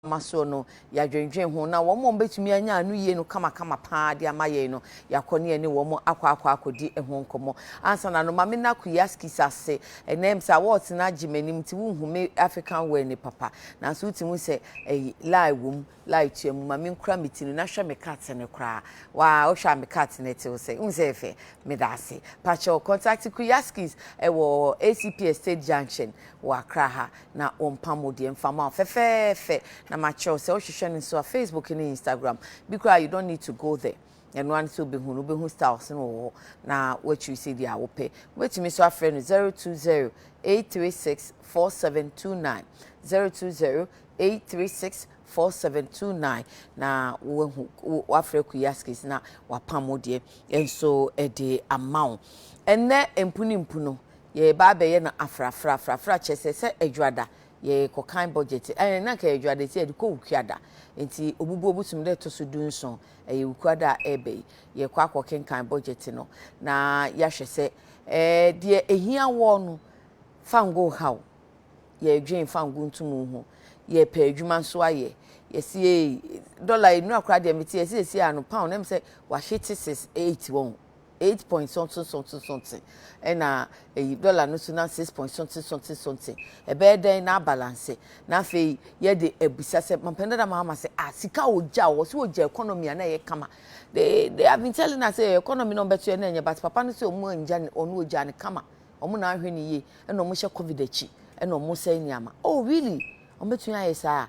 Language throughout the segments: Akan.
ama soɔ no, yɛadwendwen ho, na wɔn a wɔbɛtumi anya ano yie no kamakama pa ara de ama yɛn no, yɛakɔ ne yɛne wɔn akɔ akɔ akɔdi ho nkɔmmɔ. Ansa na no, ma menna Kuyaskis ase. Ɛnnɛ, ɛm sɛ awards no agye m'anim nti, wonhu me African wear no papa, nanso wotumi hu sɛ ɛyi, lie wom, lie tua mu. Ma menkura me ti no, na hwɛ me cut no koraa. Waa, wohwɛ a me cut no ɛte wo sɛ? Wohu sɛ ɛyɛ fɛ? Meda ase. Pa kyɛw, contact Kuyaskis wɔ ACP Estate Junction wɔ Accra ha. na wɔmpam wo deɛ mfa ma wo fɛfɛɛfɛ na makyerɛw sɛ wohwehwɛ no nso a Facebook ne Instagram bi koraa you don't need to go there ɛno ara ne sɛ wobɛhu no wobɛhu styles no wɔ hɔ na woakyiri sɛ deɛ a wopɛ wobɛtumi nso afrɛ no 020 836 4729 020 836 4729 na woahu woafrɛ kuyi askes na wapam wo deɛ nso ɛde ama wo ɛnɛ mpu ne mpu no yɛreba abɛyɛ no afrafra. Afrafra kyerɛ sɛ, sɛ Adwada yɛrekɔ kan budget, ɛɛ na nka ɛyɛ Adwada ti yɛde kɔ Wukuada. Nti obubu obu som da ɛtɔ so du nson, ɛyɛ Wukuada a ɛreba yi, yɛrekɔ akɔ kenkan budget no na yɛahwɛ sɛ ɛɛ deɛ ɛhia wɔ no fa ngo ha o, yɛredwen fa ngo ntum ho, yɛrepɛ adwuma nso ayɛ, yɛsi ee, dollar nnura koraa deɛ mete yɛsi yɛsi ano pound, ɛm sɛ wahye te six eight wɔn. eight point something something something ɛna eyi dɔla no so na six point something something something ɛbɛyɛ dɛn na abalanse na afei yɛde abisa sɛ mampɛn dada maama sɛ ah sika a ogya wɔ so ogya economy a na ɛyɛ kama they they have been telling us sɛ economy na ɔbɛto yɛ na ɛnyɛ but papa no sɛ ɔmo ngya ne ɔno ogya ne kama ɔmo na ahwɛ ne yie ɛna ɔmo hyɛ covid akyi ɛna ɔmo sɛn nneɛma oh really ɔmo betumi ayɛ saa.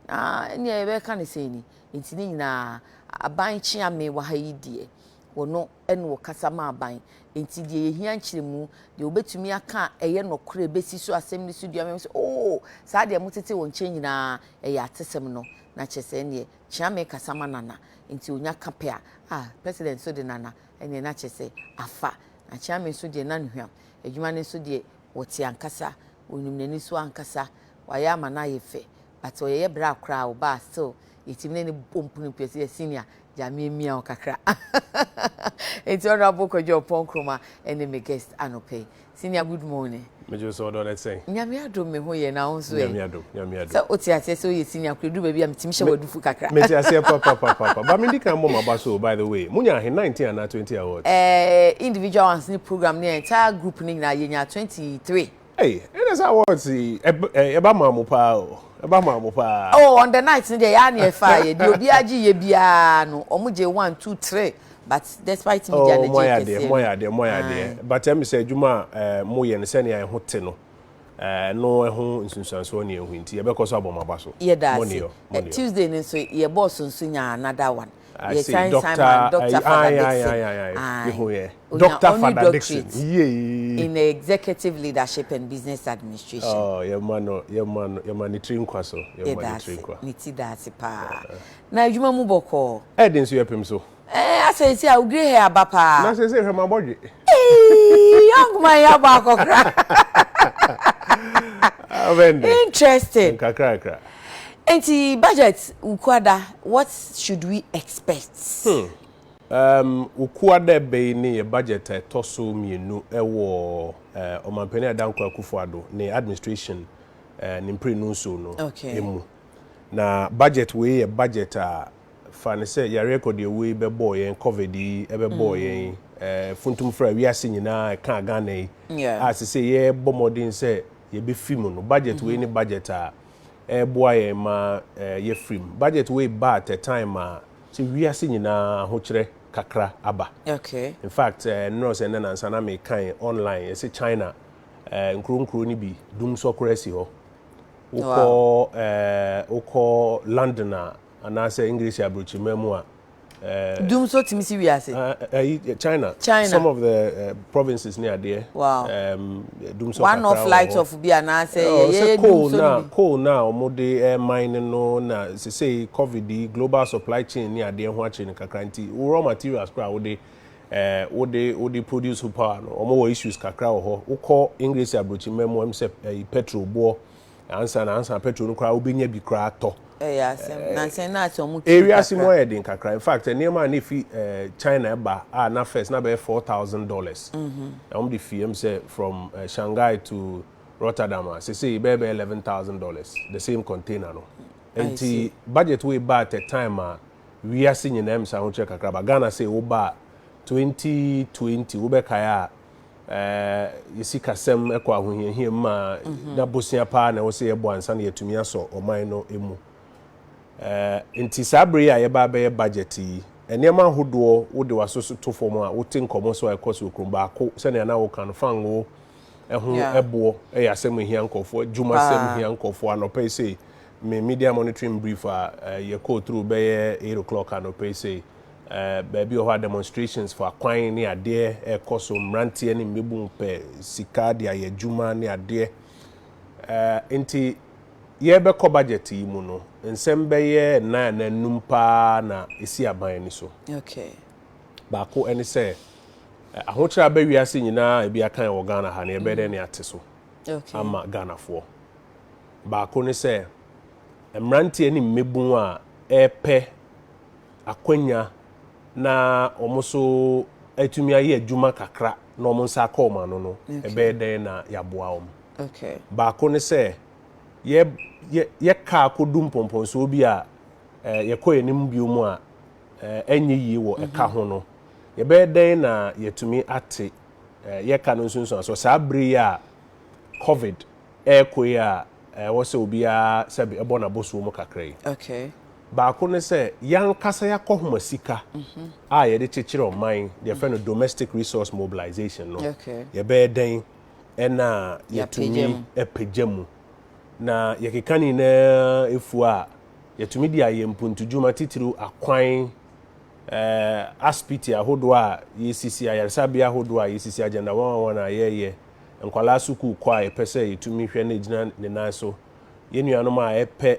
Na nea yɛbɛka ne sɛn ni, nti ne nyinaa aban kyeame wɔ ha yi deɛ, wɔno ɛna ɔkasa ma aban. Nti deɛ yɛhia nkyerɛmu, deɛ wɔbɛtumi aka ɛyɛ nɔkorɛ, bɛsi so asɛm no so dua mɛm sɛ oo saa deɛ motete wɔ nkyɛn nyinaa ɛyɛ atesɛm no, na kyerɛ sɛ ɛneɛ kyeame kasa ma Nana, nti ɔnya ka pɛ a, ah President nso de Nana ɛneɛ na kyerɛ sɛ afa. Na kyeame nso deɛ na no hwam, adwuma no nso deɛ wɔte ankasa, wɔnim n'ani so ankasa. Wayɛ ama no ayɛ fɛ but ɔyɛyɛ bra koraa a ɔbaa still yɛtumi ne no bɔ mpunu pii ɔse yɛ senior gyaa me mia wo kakra nti honourable Kwadwo Ompong Nkrumah ɛne me guest anɔpa yi senior good morning. Megye wo sɛ ɔdɔ no te sɛn? Nyame adom me ho yɛ na wo nso ɛ? Nyame adom, Nyame adom. Sɛ wote aseɛ sɛ woyɛ senior koraa ɛduru baabi a metumi hyɛ wo adufu kakra. Mete aseɛ papapapapa but mendi kan mmɔ m'aba so o by the way monya ahe 19 anaa 20 awards? Ɛɛ individual ones ne program ne entire group no nyinaa yɛnyaa 23. Ei ɛna sɛ awards yi ɛba maa mo paa o ɛba maa mo paa. Oh on the night no deɛ yɛa ne ɛfaa yɛ deɛ obiara gye yɛ biara no ɔmo gye one two three but despite me deɛ oh, anagye kɛseɛ no. Moayɛ adeɛ moayɛ adeɛ but ɛmi sɛ adwuma a eh, mo yɛ no sɛnea ɛho te no eh, no ɛho nsunsuansoɔ ne ɛho nti yɛbɛkɔ so abɔ mo aba so. Yɛda ase. Tuesday no nso yɛbɔɔ so nso nyaa another one. I see. Doctor, Simon, Doctor I, Father I, Dixon. I, I, I, I. Mehu yɛ. Doctor Father Dixon. Yay. In executive leadership and business administration. Oh, yɛ ma no, yɛ ma no, yɛ ma ne tiri nkwa so. Yɛ ma ne tiri nkwa. Ne ti da ase paa. Na adwuma mu bɔkɔɔ. Ɛdi nso yɛ pem so. Eh, asɛ esi a ogre hair aba paa. Na sɛ sɛ hwɛ ma bɔdwe. Ee, young man ya ba akɔkra. Interesting. Nkakra kra. Enti budget Wukuada what should we expect? Hmm um Wukuada ɛbɛyi ne yɛ budget a ɛtɔ so mmienu ɛwɔ eh Ɔmanpanin Adah Nkoa Akufo Addo ne administration eh ne mprenu nso no okay. emu. Na budget wei yɛ budget a fa ne sɛ yareɛ kɔdeɛwuo yi bɛbɔɔ yɛn, covid yi ɛbɛbɔɔ mm. yɛn eh funtum fra wiase nyinaa ɛkaa Ghana yi yeah. a sɛ sɛ yɛbɔ mmɔden sɛ yɛbɛfi mu no budget mm -hmm. wei ne budget a ɛɛboa yɛn ma yɛafirim. Budget wei ba at a time a sɛ wiase nyinaa ahokyerɛ kakra aba. In fact nnora ɔsɛ nnɛ nansa na mekae online yɛse China nkuro nkuro no bi dumsɔ koraa si hɔ. Wokɔ wokɔ London a anaasɛ English aburokyirima mu a. Eh, Dum nso tumi si wiase. Ah, eh, eh, China. China. Some of the uh, provinces near there. Wow. Um, dum so One of light of bi anaasɛ oh, yɛyɛ dum so na coal na wɔn de eh, mine no na sese covid global supply chain near there. ho akyere no kakra nti raw materials koraa wɔde eh, wɔde wɔde produce ho power no wɔn wɔ issues kakra wɔ hɔ wokɔ English aburokyima mu wɔn sɛ eh, petrol boɔ. ansa na ansa petrol no koraa wobɛnya bi koraa atɔ. Ɛyɛ asɛm. Eh, nansa na asɛ ɔmo twi kakra. Ewiase mu ayɛ den kakra. In fact, nneɛma a na efi eh, China ɛba a na first na bɛyɛ four thousand dollars. Mhm. Na wɔn de fi ɛm sɛ from eh, Shanghai to Rotterdam a sese bɛyɛ bɛyɛ eleven thousand dollars the same container no. Nti budget wei ba at a time a wiase nyinaa mu sɛ ahokyerɛ kakra ba Ghana sɛ wo ba twenty twenty wobɛkae a yɛ sikasɛm kɔ ahohiahia mu ma na bosea paa na ɛwɔ sɛ yɛbɔ ansa na yɛatumi asɔ ɔman no mu. Nti saa bere yi a yɛba abɛyɛ budget yi, nneɛma ahodoɔ wode w'aso so to fam a wote nkɔmmɔ so a ɛkɔ so okurom baako sɛnea na woka no fangoo ɛho ɛboɔ ɛyɛ asɛm ehia nkɔfoɔ adwuma asɛm ehia nkɔfoɔ anɔpɛ sei me media monitoring brief a yɛkɔɔ turu bɛyɛ eight o'clock anɔpɛ sei baabi wɔ hɔ a demonstrations fa kwan ne adeɛ ɛrekɔ so, mmeranteɛ ne mmabun pɛ sika de ayɛ adwuma ne adeɛ. Nti yɛrebɛkɔ budget yi mu no, nsɛm bɛyɛ nnan anaa nnum paa na ɛsi aban ani so. Okay. Baako ɛne sɛ, ahokyerɛ abɛ wiase nyinaa ebi akan wɔ Ghana ha no, yɛbɛyɛ dɛn ne ate so ama Ghanafoɔ. Baako ne sɛ, mmeranteɛ ne mmabun a ɛrepɛ akwanya na wɔn nso atumi ayɛ adwuma kakra na wɔn nsa akɔ wɔn ano no, ɛbɛyɛ dɛn na yɛaboa wɔn? Baako ne sɛ, yɛ yɛ yɛ kaa kɔdu mpɔmpɔnsoɔ bi a yɛkɔ yɛn anim bio mu a ɛnyɛ yie wɔ ɛka ho no, yɛbɛyɛ dɛn na yɛatumi ate yɛ ka no nsunsuansoɔ saa berɛ yi a covid ɛrekɔ yi a ɛwɔ sɛ obiara sɛbe bɔ n'abɔsoɔ mu kakra yi. Baako ne sɛ, yɛankasa yɛakɔhoma sika a yɛde kyekyere ɔman, deɛ yɛfrɛ no domestic resource mobilisation no, yɛbɛyɛ dɛn na yɛatumi apagya mu. Na yɛkeka ne nyinaa fuo a, yɛatumi de ayɛ mpuntudwuma titiriw akwan, asipiti ahodoɔ a yɛsisi, ayaresabea ahodoɔ a yɛsisi, agenda 111 a yɛreyɛ, nkwadaa sukuu kɔ a yɛpɛ sɛ yɛtumi hwɛ na ɛgyina ne nan so, yɛn nuanom a wɔpɛ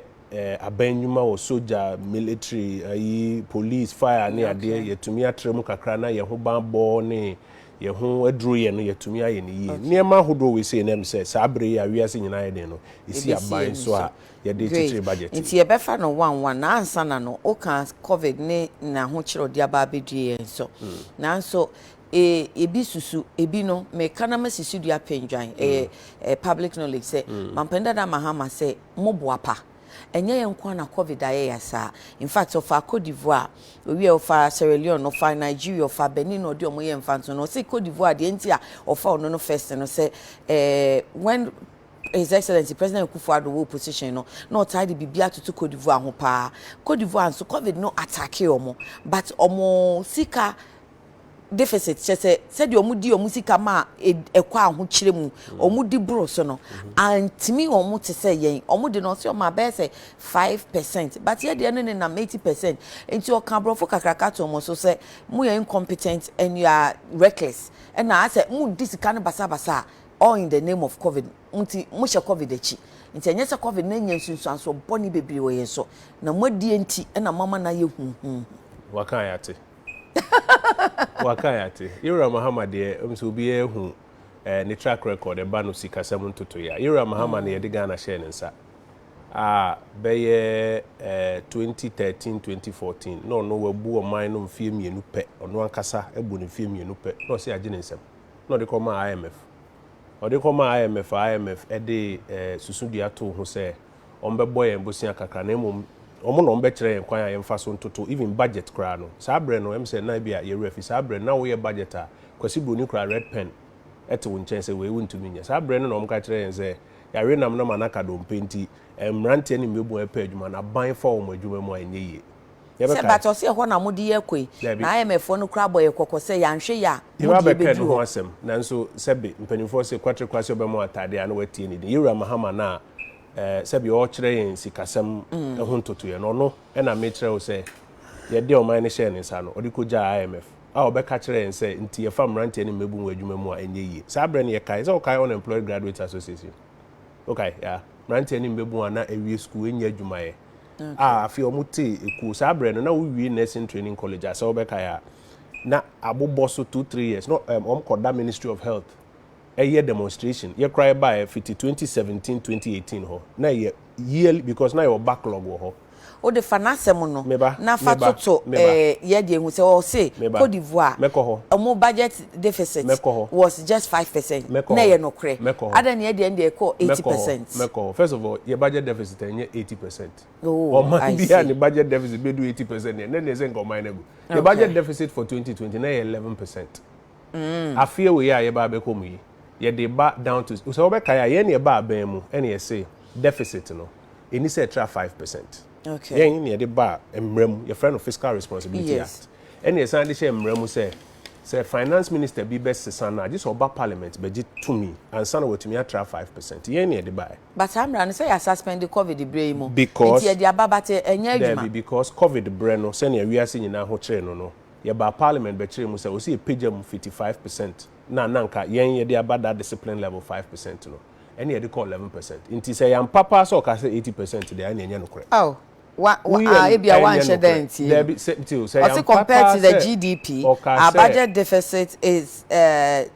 aban nnwuma wɔ sogya, military, ayi, police, fire ne adeɛ, yɛtumi atra mu kakra na yɛn ho bammɔ ne yɛn ho aduro yɛ no, yɛtumi ayɛ no yie. Nneɛma ahodoɔ wei sei na ɛm sɛ saa berɛ yi a wiase nyinaa ayɛ den no, ɛsi aban so a yɛde kyekyere budget yi. Nti yɛbɛfa no one one na ansa na no, wokaa covid ne n'ahokyerɛdeɛ aba abɛdue yɛn so. Nanso Ee, ebi susu, ebi no, meka na masi so dua pendwan. Ɛyɛ eh, public knowledge sɛ Mampanin Dada Mahama sɛ mo boapa. Ɛnyɛ yɛn nko ara na Covid ayɛ yɛn saa. In fact, ɔfaa Cote d'Ivoire, owiee ɔfaa Sierra Leone, ɔfaa Nigeria, ɔfaa Benin na ɔde wɔn yɛɛ mfatoho no. Ɔse Cote d'Ivoire, deɛ nti a ɔfaa ɔno no first no sɛ eh, when His Excellency President Akufo-Addo wɔ opposition no, na ɔtaa de biribi atoto Cote d'Ivoire ho paa. Cote d'Ivoire nso, Covid no attackee wɔn, but wɔn sika deficit, kyerɛ sɛ sɛdeɛ wɔde wɔn sika ma a ɛkɔ ahokyerɛ mu, wɔde boro so no, antumi wɔn te sɛ yɛn. Wɔn de no ɔsɛ wɔn abɛyɛ sɛ five percent, but yɛ deɛ no ne nam eighty percent. Nti ɔka aborɔfo kakraka to wɔn so sɛ mo yɛ incompetent and you are reckless. Ɛna asɛ mo di sika no basabasa a, all in the name of covid. Mo nti mo hyɛ covid akyi. Nti ɛnyɛ sɛ covid no anya nsunsuansoɔ bɔne bebree wɔ yɛn so, na mo adie nti ɛna mo ama no ayɛ huhuuhu. Waka a yɛate. Waka yɛate. Yowura Mahama deɛ, wonim sɛ obiara hu ne track record, ɛba no sikasɛm ntotoeɛ a. Yowura Mahama na yɛde Ghana hyɛɛ ne nsa a bɛyɛ 2013-2014, na ɔno wabu ɔman no mfeɛ mmienu pɛ, ɔno ankasa abu no mfeɛ mmienu pɛ, na ɔse agye ne nsam, na ɔde kɔmaa IMF. Ɔde kɔmaa IMF a, IMF de susudua too ho sɛ, wɔbɛbɔ yɛn bosea kakra na mmom wɔn na wɔbɛkyerɛ yɛn kwan a yɛmfa so ntoto even budget koraa no. Saa berɛ no, ɛm sɛ na ebia yɛn werɛ afi. Saa berɛ no, na woyɛ budget a, Kwasi Broni koraa red pen te wo nkyɛn sɛ wei wontumi nyɛ. Saa berɛ no na wɔka kyerɛ yɛn sɛ yɛawe nam na ma no aka dompe nti, mmeranteɛ ne mmabun a ɛpɛ adwuma no, aban fa wɔn adwuma mu a, ɛnyɛ yie. Sɛ but ɔse ɛhɔ na mode yɛ kɔ yi, na IMF foɔ no koraa bɔ yɛn kɔkɔ sɛ yɛanhwɛ yie a, mo deɛ bɛduru hɔ. Yɛba bɛka ɛno ho asɛm, nanso sɛbe mpanimfoɔ se Kwatre Kwasi ɔbɛma wo ataadeɛ a, na woatie ne din. Yɛwura Mahama no a, sɛdeɛ ɔrekyerɛ yɛn sikasɛm ho ntotoeɛ no, ɔno na mekyerɛ wo sɛ yɛde ɔman no hyɛɛ ne nsa no, ɔde kɔgyaa IMF a ɔbɛka kyerɛɛ yɛn sɛ nti yɛfa mmeranteɛ ne mmabun wɔ adwuma mu a ɛnyɛ yie. Saa berɛ no yɛkae, sɛ wokae Unemployed Graduates Association? Wokae? Yeah. Mmeranteɛ ne mmabun a na awie sukuu ɛnyɛ adwumayɛ a afei wɔn te ekuo. Saa berɛ no na wowie Nursing Training College a sɛ wobɛkae a na abobɔ so two three years na wɔn kɔda Ministry of Health yɛ demonstration yɛ koraa yɛ baeɛ fiti twenty seventeen twenty eighteen hɔ na ɛyɛ yearly because na yɛwɔ backlog wɔ hɔ. Wode fa n'asɛm no Meba na fa meba toto meba eh, yɛ deɛ hu sɛ ɔse meba Cote d'Ivoire mɛkɔ hɔ ɔmo budget deficit mɛkɔ hɔ was just five percent mɛkɔ na hɔ ɛyɛ nokorɛ mɛkɔ hɔ adɛn na yɛdeɛ no deɛ ɛkɔɔ eighty mɛkɔ hɔ percent mɛkɔ hɔ first of all yɛ budget deficit ɛnyɛ eighty percent oh ɔman I biara see ne budget deficit bɛdu eighty percent deɛ na ɛneɛ sɛ nka ɔman no agu yɛ okay budget deficit for twenty twenty na ɛyɛ eleven percent Afeɛ wei a yɛba abɛkɔ mu yi, yɛde ba down to, sɛ wobɛkae a, yɛn na yɛba abɛn mu na yɛse deficit no, ɛnni sɛ ɛtra five percent. Yɛn na yɛde ba mmara mu, yɛfrɛ no Fiscal Responsibility Act, ɛna yɛsan de hyɛɛ mmara mu sɛ, sɛ Finance Minister bi bɛsesa no a, gye sɛ ɔba Parliament bɛgye tumi ansa na watumi atra five percent. Yɛn na yɛde baeɛ. But saa mmara no, sɛ yɛ suspend Covid berɛ yi mu nti yɛde aba but ɛnyɛ adwuma. Daabi, because Covid berɛ no, sɛnea wiase nyinaa ho kyeree no no, Yɛbaa parliament bɛkyerɛɛ mu sɛ ɔsɛ yɛpagya mu fiti five percent na na nka yɛn yɛde aba that discipline level five percent no ɛne yɛde kɔ eleven percent nti sɛ yɛampa paa sɛ ɔkaa sɛ eighty percent deɛ ɛne ɛnyɛ nokorɛ. Aw wa wa a ebia wanhyɛ da antie no. Daabi sɛ tio sɛ yɛampa paa sɛ ɔkaa sɛ. Ɔse compared to the GDP, our budget deficit is uh,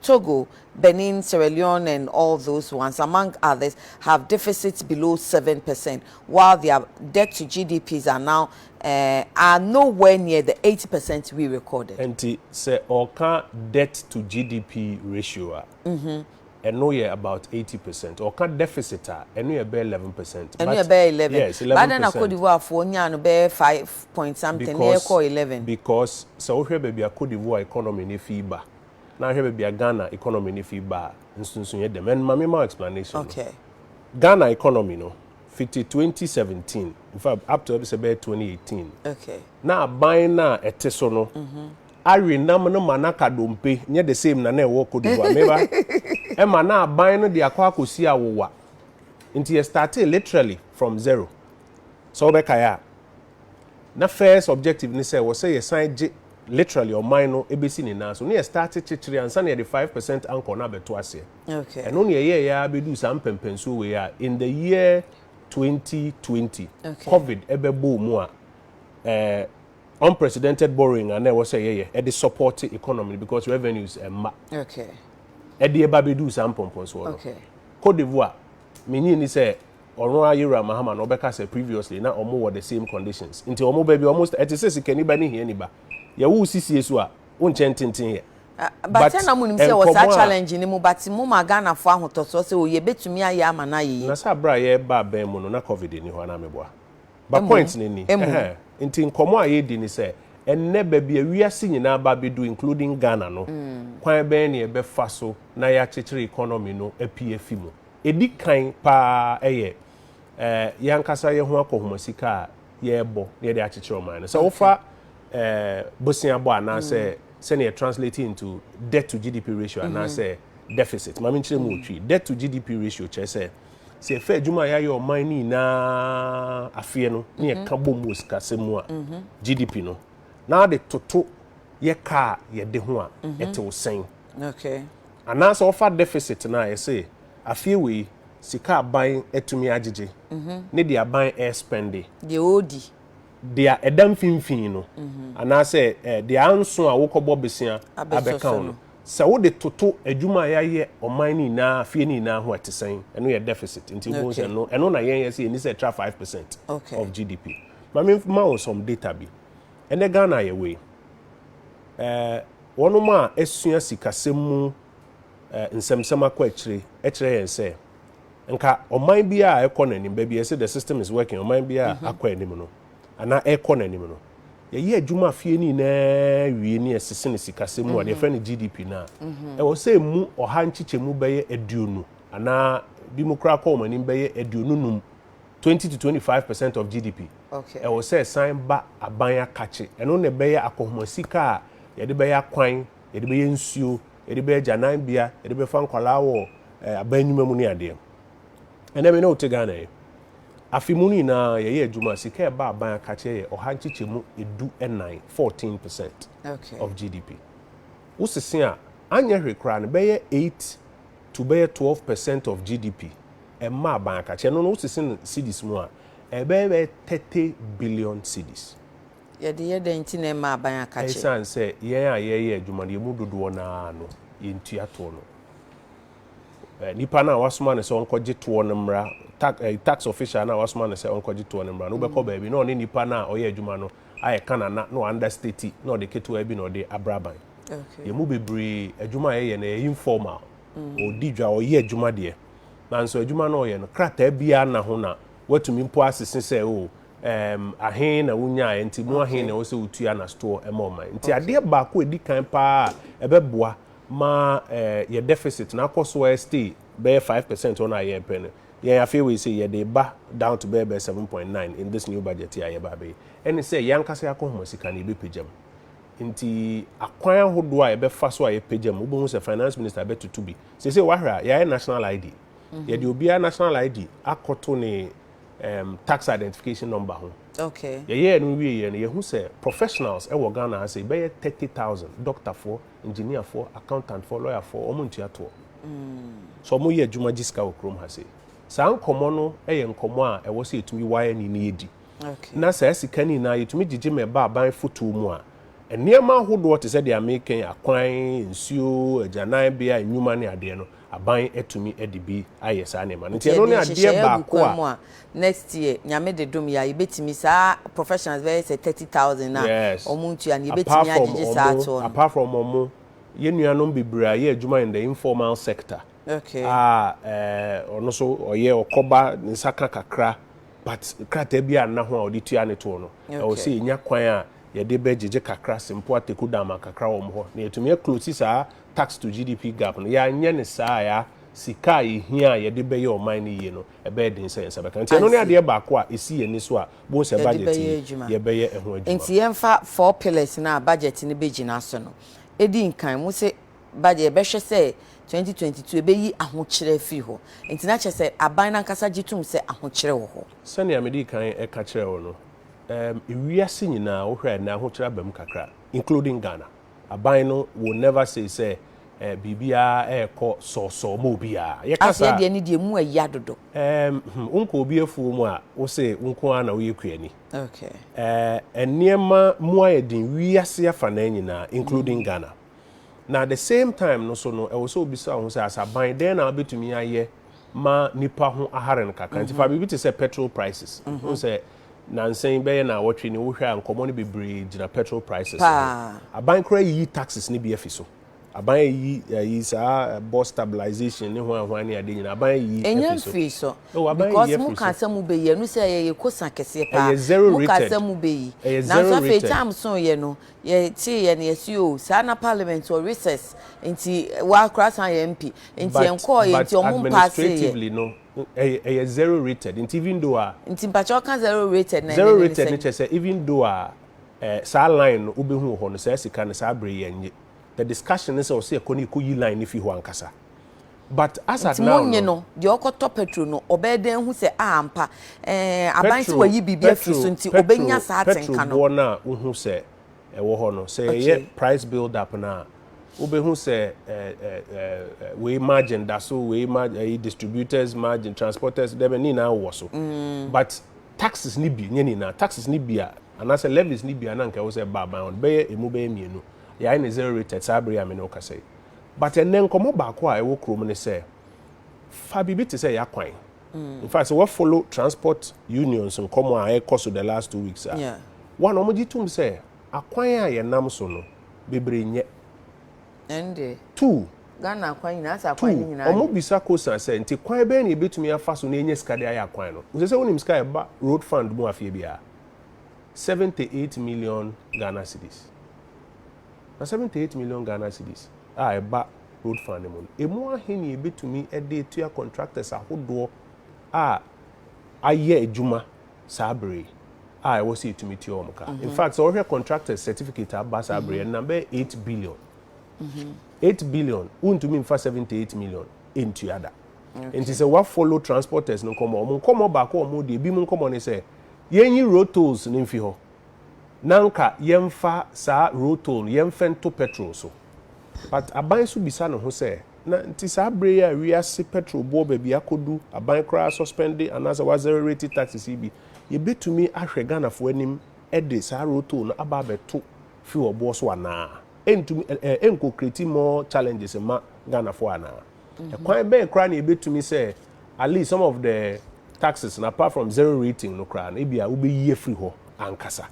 Togo, Benin, Sierra Leone and all those ones among others have deficits below seven percent while their debt to GDPs are now eh, are no where near the eighty percent we recorded. Nti sɛ ɔreka debt to GDP ratio a, ɛno yɛ about eighty percent. Ɔka deficit a, ɛno yɛ bɛyɛ eleven percent. Ɛno yɛ bɛyɛ eleven. Yes, eleven percent. But na Cote d'Ivoire foɔ nyaa no bɛyɛ five point something na yɛkɔ eleven. Because sɛ wohwɛ baabi a Cote d'Ivoire economy no fi ba, na ahwɛ baabi a Ghana economy no fi ba a, nsonsonoe yɛ dɛm. And ma memma wo explanation no. Okay. Ghana economy no, fiti 2017, in fact, up to ɛbi sɛ bɛyɛ 2018, Okay. na aban no a ɛte so no mm-hmm. awe nam no ma no aka dompe, nyɛ the same na na ɛwɔ Cote d'Ivoire, meba, ɛma na aban no de akɔ akɔsi awowa. Nti yɛ startee literally from zero. Sɛ wobɛkae a, Na first objective ne sɛ wɔsɛ yɛsan gye literally ɔman no bɛsi ne nan so na yɛ starte kyekyere ansa na yɛde five percent anchor no abɛto aseɛ. Okay. Ɛno na yɛyɛɛyɛ ara bɛduu saa mpɛmpɛnsuo wei a in the year 2020 Okay. covid ɛbɛbɔɔ mu a eh, unprecedented borrowing a na ɛwɔ sɛ yɛyɛ ɛde support economy no because revenues ɛmma Okay. ɛde ɛba bɛduu saa mpɔmpɔnsoɔ no. Okay. Cote d'Ivoire, menyi ni sɛ ɔno ara Yowura Mahama no ɔbɛka sɛ previously na wɔn wɔ the same conditions nti wɔn ba bi wɔn sta ɛte sɛ sikani ba ne hiani ba yɛwo wo sisie so a wonkyɛn tenten yɛ. But ɛna mo nim sɛ wɔ saa challenge ne mu but mo ma Ghana fo ahotɔsoɔ sɛ o yɛbɛtumi ayɛ ama no ayɛ yie. Na sɛ abere a yɛreba abɛn mu no na covid nni hɔ anaa meboa? But point no ni ɛhɛɛ nti nkɔmɔ a yɛredi ne sɛ ɛnnɛ baabi a wiase nyinaa ba abɛdu including Ghana no kwan bɛn na yɛbɛfa so na yɛakyekyere economy no apue afi mu. Ɛdi kan pa ara yɛ eh, yɛn ankasa yɛn ho akɔhoma sika a yɛrebɔ na yɛde akyekyere ɔman no. Sɛ wofa eh, boseabɔ anaasɛ mm. sɛnea yɛ translate into debt to GDP ratio mm-hmm. anaasɛ deficit. Maame nkyerɛ mu otwi. Mm. Debt to GDP ratio kyerɛ sɛ sɛ yɛfɛ adwuma a yɛayɛ ɔman no nyinaa afeɛ no ne yɛka mm-hmm. bom wɔ sikasɛm mu a mm-hmm. GDP no na ade toto yɛ kaa yɛde ho a ɛtew sɛn. Okay. Anaasɛ ɔfa deficit no a yɛse afeɛ wei sika aban atumi agyegye ne deɛ aban ɛspɛnde. Deɛ ɔɔdi. Deɛ ɛda mfinfin no anaasɛ deɛ anso a wokɔbɔ besia abɛka ho no. Sɛ wode toto adwuma a yɛayɛ ɔman no nyinaa afeɛ no nyinaa ho a ɛte sɛn? Ɛno yɛ deficit nti wobɛhu sɛ ɛno ɛno na yɛn yɛse ɛnni sɛ ɛtra five percent of GDP. Ma memma wo some data bi. Ɛnnɛ Ghana yɛwɔ yi ɛɛ. Wɔnom a asua sikasɛm mu nsɛmsɛm akɔ akyire kyerɛ yɛn sɛ nka ɔman biara a ɛkɔ n'anim, baabi a yɛsɛ the system is working, ɔman biara a akɔ anim no, anaa ɛkɔ n'anim no, yɛyɛ adwuma afie no nyinaa wie ne yɛsese no sikasɛm mu a, deɛ yɛfrɛ no GDP no a, ɛwɔ sɛ ɛmu ɔha nkyekyɛmu bɛyɛ aduonu anaa bi mu koraa kɔ wɔn anim bɛyɛ aduonu num. twenty to twenty five percent of gdp ɛwɔ sɛ ɛsan ba aban akakye ɛno na ɛbɛyɛ akɔhoma sika a yɛde bɛyɛ akwan yɛde bɛyɛ nsuo yɛde bɛyɛ gyananbea yɛde bɛfa nkwadaa wɔ eh, aban nnwuma mu ne adeɛ ɛnna mi ne wote ghana yi afe mu no nyinaa yɛyɛ adwuma sika ɛba aban akakye yɛ ɔha nkyekyɛ mu edu ɛnan fourteen percent of gdp wosese a anyɛ hwee koraa no bɛyɛ eight to bɛyɛ twelve percent of gdp. ɛma aban akakyɛ ɛno no wosese no cedis mu a ɛbɛyɛ bɛyɛ thirty billion cedis. Yɛde yɛ dɛn nti na ɛma aban akakyɛ? Ɛsiane sɛ yɛn a yɛyɛ adwuma no yɛn mu dodoɔ no ara no yɛntua toɔ no. Nipa no a wasoma no sɛ ɔnkɔgye toɔ no mmra tax eh, tax official no a wasoma no sɛ ɔnkɔgye toɔ no mmra no wobɛkɔ mm. baabi na ɔne nipa no a ɔyɛ adwuma no ayɛ kanana na ɔanda stati na ɔde ketewa bi na ɔde abra ban. Yɛn mu bebree adwuma a yɛyɛ no ɛyɛ informal. Mm. Ɔdi dwa ɔyɛ adwuma deɛ. Nanso adwuma no a ɔyɛ no, krataa biara nna ho na watumi mpo asese sɛ o, oh, um, ahe na wonyaeɛ nti mu ahe na ɛwɔ sɛ wotua na store ɛma ɔman. Nti adeɛ baako a ɛdi kan paa a ɛbɛboa ma eh, yɛ deficit na akɔ so a stay bɛyɛ 5 percent hɔ no a yɛrepɛ no yɛn afei wei sɛ yɛde ba down to bɛyɛ bɛyɛ 7.9 in this new budget a yɛba abɛyɛ ɛne sɛ yɛn ankasa yɛ akɔhoma sika no yɛbɛpagya mu. Nti akwan ahodoɔ a yɛbɛfa so a yɛpagya mu wobɛhu sɛ finance minister bɛtoto bi Seesei wahwɛ a, yɛayɛ national ID. Mhm. Yɛde obiara national ID akɔto ne um, tax identification number ho. Okay. Yɛyɛɛ no wie yɛ no, yɛhu sɛ professionals wɔ Ghana ase bɛyɛ 30,000, doctorfoɔ, engineerfoɔ, accountantfoɔ, lawyerfoɔ, wɔn ntua toɔ. Mm. So wɔn yɛ adwuma gye sika wɔ kurom ha sei. Saa nkɔmɔ no yɛ nkɔmɔ a ɛwɔ sɛ yɛtumi wire ni ne yɛdi. na saa sika no nyinaa yɛtumi gyegye ma ɛba aban fotow mu a, nneɛma ahodoɔ te sɛ deɛ meka yi, akwan, nsuo, agyananbea, nnwuma ne adeɛ no, aban atumi de bi ayɛ saa nneɛma no. Nti ɛno ne adeɛ baako a. a next year Nyame de dom yɛ a, yɛbɛtumi saa professionals bɛyɛ sɛ thirty thousand no a wɔn ntua no, yɛbɛtumi agyegye saa toɔ no. Apart from wɔn, yɛn nuanom bebree a yɛ adwuma in the informal sector a ɔno nso ɔyɛ ɔkɔba ne nsa ka kakra But krataa bi a nna ho a wɔde tuaa ne toɔ no, ɛwɔ sɛ yɛnya kwan a yɛde bɛ gyegye kakra sempo ateku dama kakra wɔn hɔ, na yɛatumi a close saa tax to GDP gap no. Yɛanyɛ no saa a, sika a yɛhia a yɛde bɛyɛ ɔman no yie no, ɛbɛyɛ den sɛ yɛn nsa bɛka. Nti ɛno ne adeɛ baako a ɛsi yɛn ani so a bohu sɛ budget yi, yɛbɛyɛ ɛho adwuma. Nti yɛmfa four pillars no a budget no bɛgyina so no di nkan. Mose ba deɛ yɛbɛhwɛ sɛ 2022 ɛbɛyi ahokyerɛ afiri hɔ. Enti na kyerɛ sɛ aban no ankasa gye tom sɛ ahokyerɛ wɔ hɔ. Sɛnea medii kan ka kyerɛɛ wo no, ɛɛ wiase nyinaa wohwɛ a ɛnnɛ ahokyerɛ aba mu kakra including Ghana. Aban no will never say sɛ ɛɛ biribiara ɛrekɔ sɔɔsɔɔ ma obiara. Yɛka Afei saa deɛ ne deɛ emu ayia dodo. ɛɛ hmm, wonkɔ obi afuo mu a wose wo nko ara na woyɛ kuani. Okay. Ɛɛ nneɛma mu ayɛ den wiase afanaa nyinaa including Ghana. Na at the same time no so no, ɛwɔ sɛ wobisa wo ho sɛ, as aban, dɛn na wobɛtumi ayɛ ma nnipa ho ahare no kakra? Nti fa biribi te sɛ petrol prices. Wohu sɛ nansa yi bɛyɛ naawɔtwe ni, wohwɛ a nkɔmmɔ no bebree gyina petrol prices ho. Aban koraa ayiyi taxes no bi afi so. Aban ayiyi ayi saa bus stabilization ne hwan hwan ne ade nyinaa, aban ayiyi afi so. Ɛnya mfiri so. Oh, aban ayiyi afi so. Because mo kaa sɛ mo bɛyi, ɛno sɛ ɛyɛ kosa kɛseɛ paa. Ɛyɛ zero rated. Mo kaa sɛ mo bɛyi. Ɛyɛ zero rated. Nanso afei time so yɛ no, Yɛ tee yɛ no yɛ se oo saa na parliament wɔ recess nti wa kora san yɛ MP nti yɛ nkɔɔ yɛ nti ɔmo mpaasee yɛ. But administratively no ɛyɛ zero rated nti even though a. Nti mpakyɛ ɔka zero rated na ɛne ne ne sɛ. Zero rated no kyɛ sɛ even though a eh saa line no wo bɛ hu wɔ hɔ no saa sika no saa bere yɛ nye the discussion ne sɛ ɔse yɛ kɔ ne yɛ kɔ yi line no fi hɔ ankasa. But as at Nti now monye no, no, deɛ ɔkɔtɔ petrol no, ɔbɛyɛ dɛn ahu sɛ a ampa eh, aban se petrol, wayi biribi afiri petrol, so nti petrol, ɔbɛnya saa petrol atenka no? boɔ no a wohu sɛ ɛwɔ hɔ no, sɛ yɛyɛ Okay. price build up no a, wobɛhu sɛ eh, eh, eh, eh, wei margin da so, wei ma, eh, distributors margin, transporters, dɛbɛ, ne nyinaa wowɔ so. But taxes no bi, nyɛ ne nyinaa, taxes no bi a, anaasɛ levies no bi a na nka ɛwɔ sɛ ɛba aban hɔ no, bɛyɛ, ɛmu bɛyɛ mmienu, yɛayɛ no zero rated saa berɛ yi a me ne wo kasa yi. But ɛnnɛ nkɔmmɔ baako a ɛwɔ kurom ne sɛ, fa biribi te sɛ Y'akwan. In fact, sɛ woafollow transport unions nkɔmmɔ a ɛrekɔ so the last two weeks a, wɔn na wɔgye tom sɛ akwan a yɛnam so no, bebree nyɛ. Ɛnde, Two, Ghana akwan nyinaa, asɛ akwan no two, nyinaa nyɛ. wɔbisa Kosan sɛ, nti kwan bɛn na yɛbɛtumi afa so na yɛanya sika de ayɛ akwan no? Wosɛ sɛ wonim sika a ɛba road fund mu afeɛ biara? Seventy eight million Ghana cedis. Na seventy eight million Ghana cedis a ɛba Road Fund no mu no, ɛmu ahe na yɛbɛtumi de atua contractors ahodoɔ a ayɛ adwuma saa berɛ yi a ɛwɔ sɛ yɛtumi tua wɔn ka? In fact, sɛ wohwɛ contractors certificate a aba saa berɛ yi, ɛnam bɛyɛ eight billion. Eight billion, wontumi mfa seventy eight million ntua da. Nti sɛ woafollow transporters no nkɔmmɔ, wɔn nkɔmmɔ baako a wɔredi, ebinom nkɔmmɔ ne sɛ, yɛnyi road tolls no mfi hɔ, na nka yɛmfa saa rotor no yɛmfa nto petrol so. But aban nso bisa ne ho sɛ, na nti saa berɛ yi a wiase petrol boɔ baabi akɔdu, aban koraa suspende anaasɛ w'accelerate taxes yi bi, yɛbɛtumi ahwɛ Ghanafoɔ anim de saa rotor no aba abɛto fuel boɔ so anaa? Ɛntumi, ɛnkɔ create more challenges mma Ghanafoɔ anaa? Ɛkwan bɛn koraa na yɛbɛtumi sɛ at least some of the taxes no apart from zero rating no koraa no ebia wobɛyi afiri hɔ ankasa?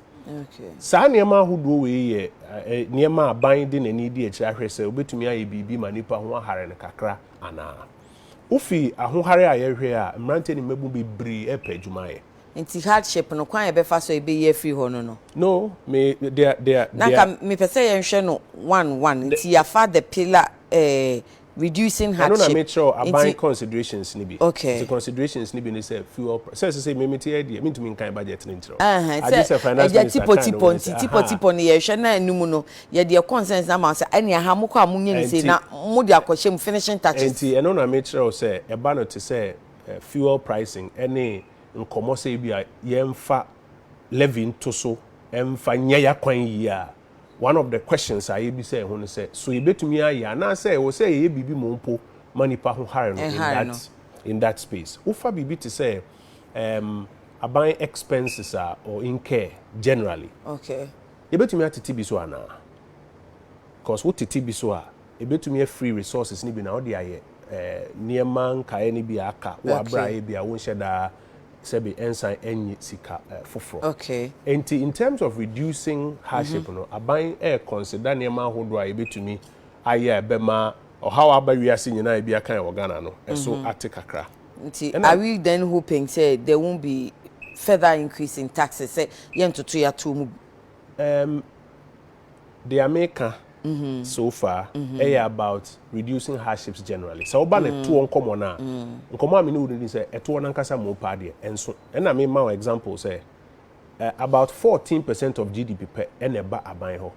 Saa nneɛma ahodoɔ wei yɛ nneɛma a aban de n'ani di akyire ahwɛ sɛ wobɛtumi ayɛ biribi ma nipa ho ahare no kakra anaa? Wofi ahohare a yɛhwɛ a mmeranteɛ ne mmabun bebree ɛrepɛ adwuma ayɛ. Nti hardship no kwan a yɛbɛfa so a yɛbɛyi afiri hɔ no no. No, me, dea, dea, Na nka dea. mepɛ sɛ yɛnhwɛ no one one. Ne- Nti yɛafa the pillar eh, reducing Ɛno na hardship. mekyerɛw Nti, aban considerations no bi. Okay. Nti considerations no bi ne sɛ fuel pri-, sɛ sesei me mete ha deɛ mentumi nkan budget no nkyerɛ wo. ɛhɛn, Agye sɛ sɛ finance ɛgya minister kan no tipotipɔ wei ne nti sɛ, aha. tipotipɔ no yɛhwɛ na ɛno mu no yɛde yɛ concerns no ama wo sɛ ɛne aha mokɔ a monyɛ ne sei Ɛnti- na mode akɔhyɛ mu finishing touches. Ɛnti ɛno na mekyerɛw sɛ ɛba no te sɛ fuel pricing ne nkɔmmɔ sɛ ebia yɛmfa levy nto so mfa nyɛ y'akwan yie a, one of the questions a yɛbisa ɛho no sɛ, so yɛbɛtumi ayɛ anaasɛ ɛwɔ sɛ yɛyɛ biribi mmom mpo ma nipa ho hare no in that in that space. Wofa biribi te sɛ um, aban expenses a or incur generally, okay. yɛbɛtumi atete bi so anaa? Because wotete bi so a, Ebetumi yɛ free resources no bi na wode ayɛ nneɛma nkaeɛ no bi a aka wɔ aberɛ a ebia wonhyɛ da sɛbe ɛnsan ɛnye sika foforɔ. Enti in terms of reducing hardship no, aban rekɔnseda nneɛma ahodoɔ a yɛbɛtumi ayɛ a ɛbɛma ɔhaw a aba wiase nyinaa a ebi aka yɛn wɔ Ghana no so ate kakra. Nti are we then hoping sɛ there won't be further increase in taxes sɛ yɛntoto yɛato mu bi? Ɛɛm, Deɛ meka so far yɛ about reducing hardships generally. Sɛ woba no toɔ nkɔmmɔ no a, nkɔmmɔ a me ne wo no di sɛ ɛtoɔ no ankasa mu paa deɛ ɛnso. Ɛna mema wo example sɛ about 14 percent of GDP pɛ ɛna ɛba aban hɔ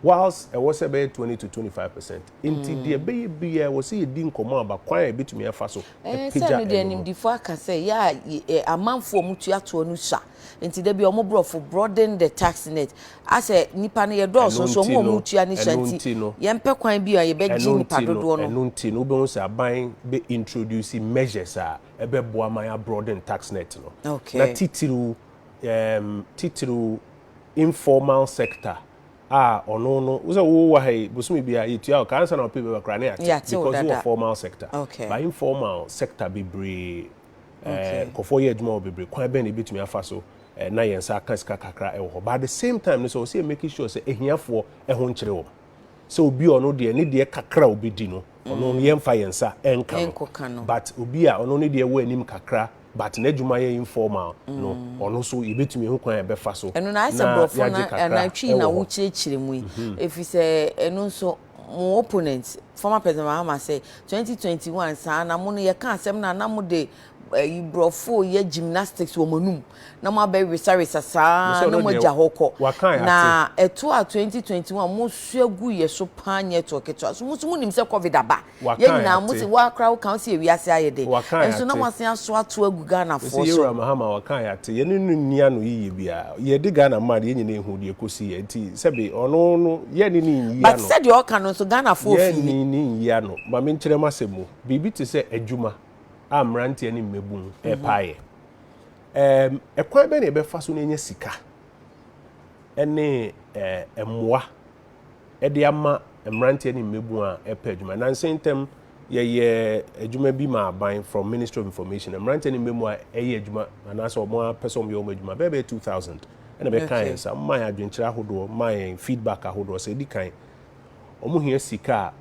whilst ɛwɔ sɛ ɛbɛyɛ 20 to 25 percent. Nti deɛ ɛbɛyɛ biara ɛwɔ sɛ yɛdi nkɔmmɔ aba kwan a yɛbɛtumi afa so apagya ɛno no. Sɛ no deɛ animdefo aka sɛ yɛ a amanfoɔ a wɔtua toɔ no sua Nti da bi ɔmo brɔfo broaden the tax net a sɛ nipa no yɛ dɔɔso nso ɔmo a ɔmo tua ne sua nti yɛn pɛ kwan bi a yɛ bɛ gye nipa dodoɔ no. Ɛno nti no wo bɛhu sɛ aban bɛ introduce measures a ɛbɛ boa ma yɛ abroaden tax net no na titiriw ɛɛm titiriw informal sector a ɔno no wo sɛ wo wɔ ha yi bosome biara yɛ tua wo ka ansa na wo pay bɛba koraa na yɛ ate because wo wɔ formal sector but informal sector bebree Nkurɔfoɔ yɛ adwuma wɔ bebree, kwan bɛn na yɛbɛtumi afa so na yɛn nsa aka sika kakra wɔ hɔ, but at the same time nso ɛwɔ sɛ yɛ make sure sɛ ahiafoɔ ho nkyere wɔn, sɛ obi a ɔno deɛ ne deɛ kakra a ɔbɛdi no ɔno no yɛmfa yɛn nsa nka no, but obi a ɔno ne deɛ ɛwɔ anim kakra but n'adwuma yɛ informal no ɔno nso yɛbɛtumi ɛho kwan a yɛbɛfa so na yɛagye kakra wɔ hɔ. Ɛno na ayɛ sɛ borɔfo na ɛna twii na wokyerɛkyerɛ mu yi, ɛfiri sɛ ɛno nso mo opponent former president mahama sɛ twenty twenty one saa na mo no yɛ ka asɛm na na mo de ɛyi eh, brɔfo yɛ gymnastics wɔ mo anum na mo abɛ resaresa saa na mo agya hɔ kɔ na ɛto a twenty twenty one mo so agu yɛ so paa nyɛ to ketewa so mo so mo nim sɛ covid aba yɛ nyinaa mo si wɔ akora wɔ kan si ewiase ayɛ de nso na mo asen aso ato agu ghana fo so. yɛ wura mahama wɔ kan yɛ ate yɛ ne no nia no yiye bia yɛ de ghana man yɛ nyinaa ehu deɛ kosi yɛ nti Sɛbe, ɔno no, yɛne no nyi But ano. sɛdeɛ ɔka no nso, Ghanafoɔ fii. Yɛne no nyi ano. Ma menkyerɛ m'asɛm mu. Biribi te sɛ adwuma a mmeranteɛ ne mmabun repa ayɛ. Ɛɛm, ɛkwan bɛn na yɛbɛfa so na yɛanya sika ne ɛɛ mmoa de ama mmeranteɛ ne mmabun a ɛrepɛ adwuma? Nansa yi ntam, yɛyɛ adwuma bi ma aban from Ministry of Information. Mmeranteɛ ne mmabun a ɛyɛ adwuma anaasɛ wɔn ara pɛ sɛ wɔyɛ wɔn adwuma bɛyɛ bɛyɛ 2000. ɛna bɛkaa yɛn saa, ɔmaa yɛn adwenkyerɛ ahodoɔ, maa yɛn feedback ahodoɔ sɛ ɛdi kan wɔn hia sika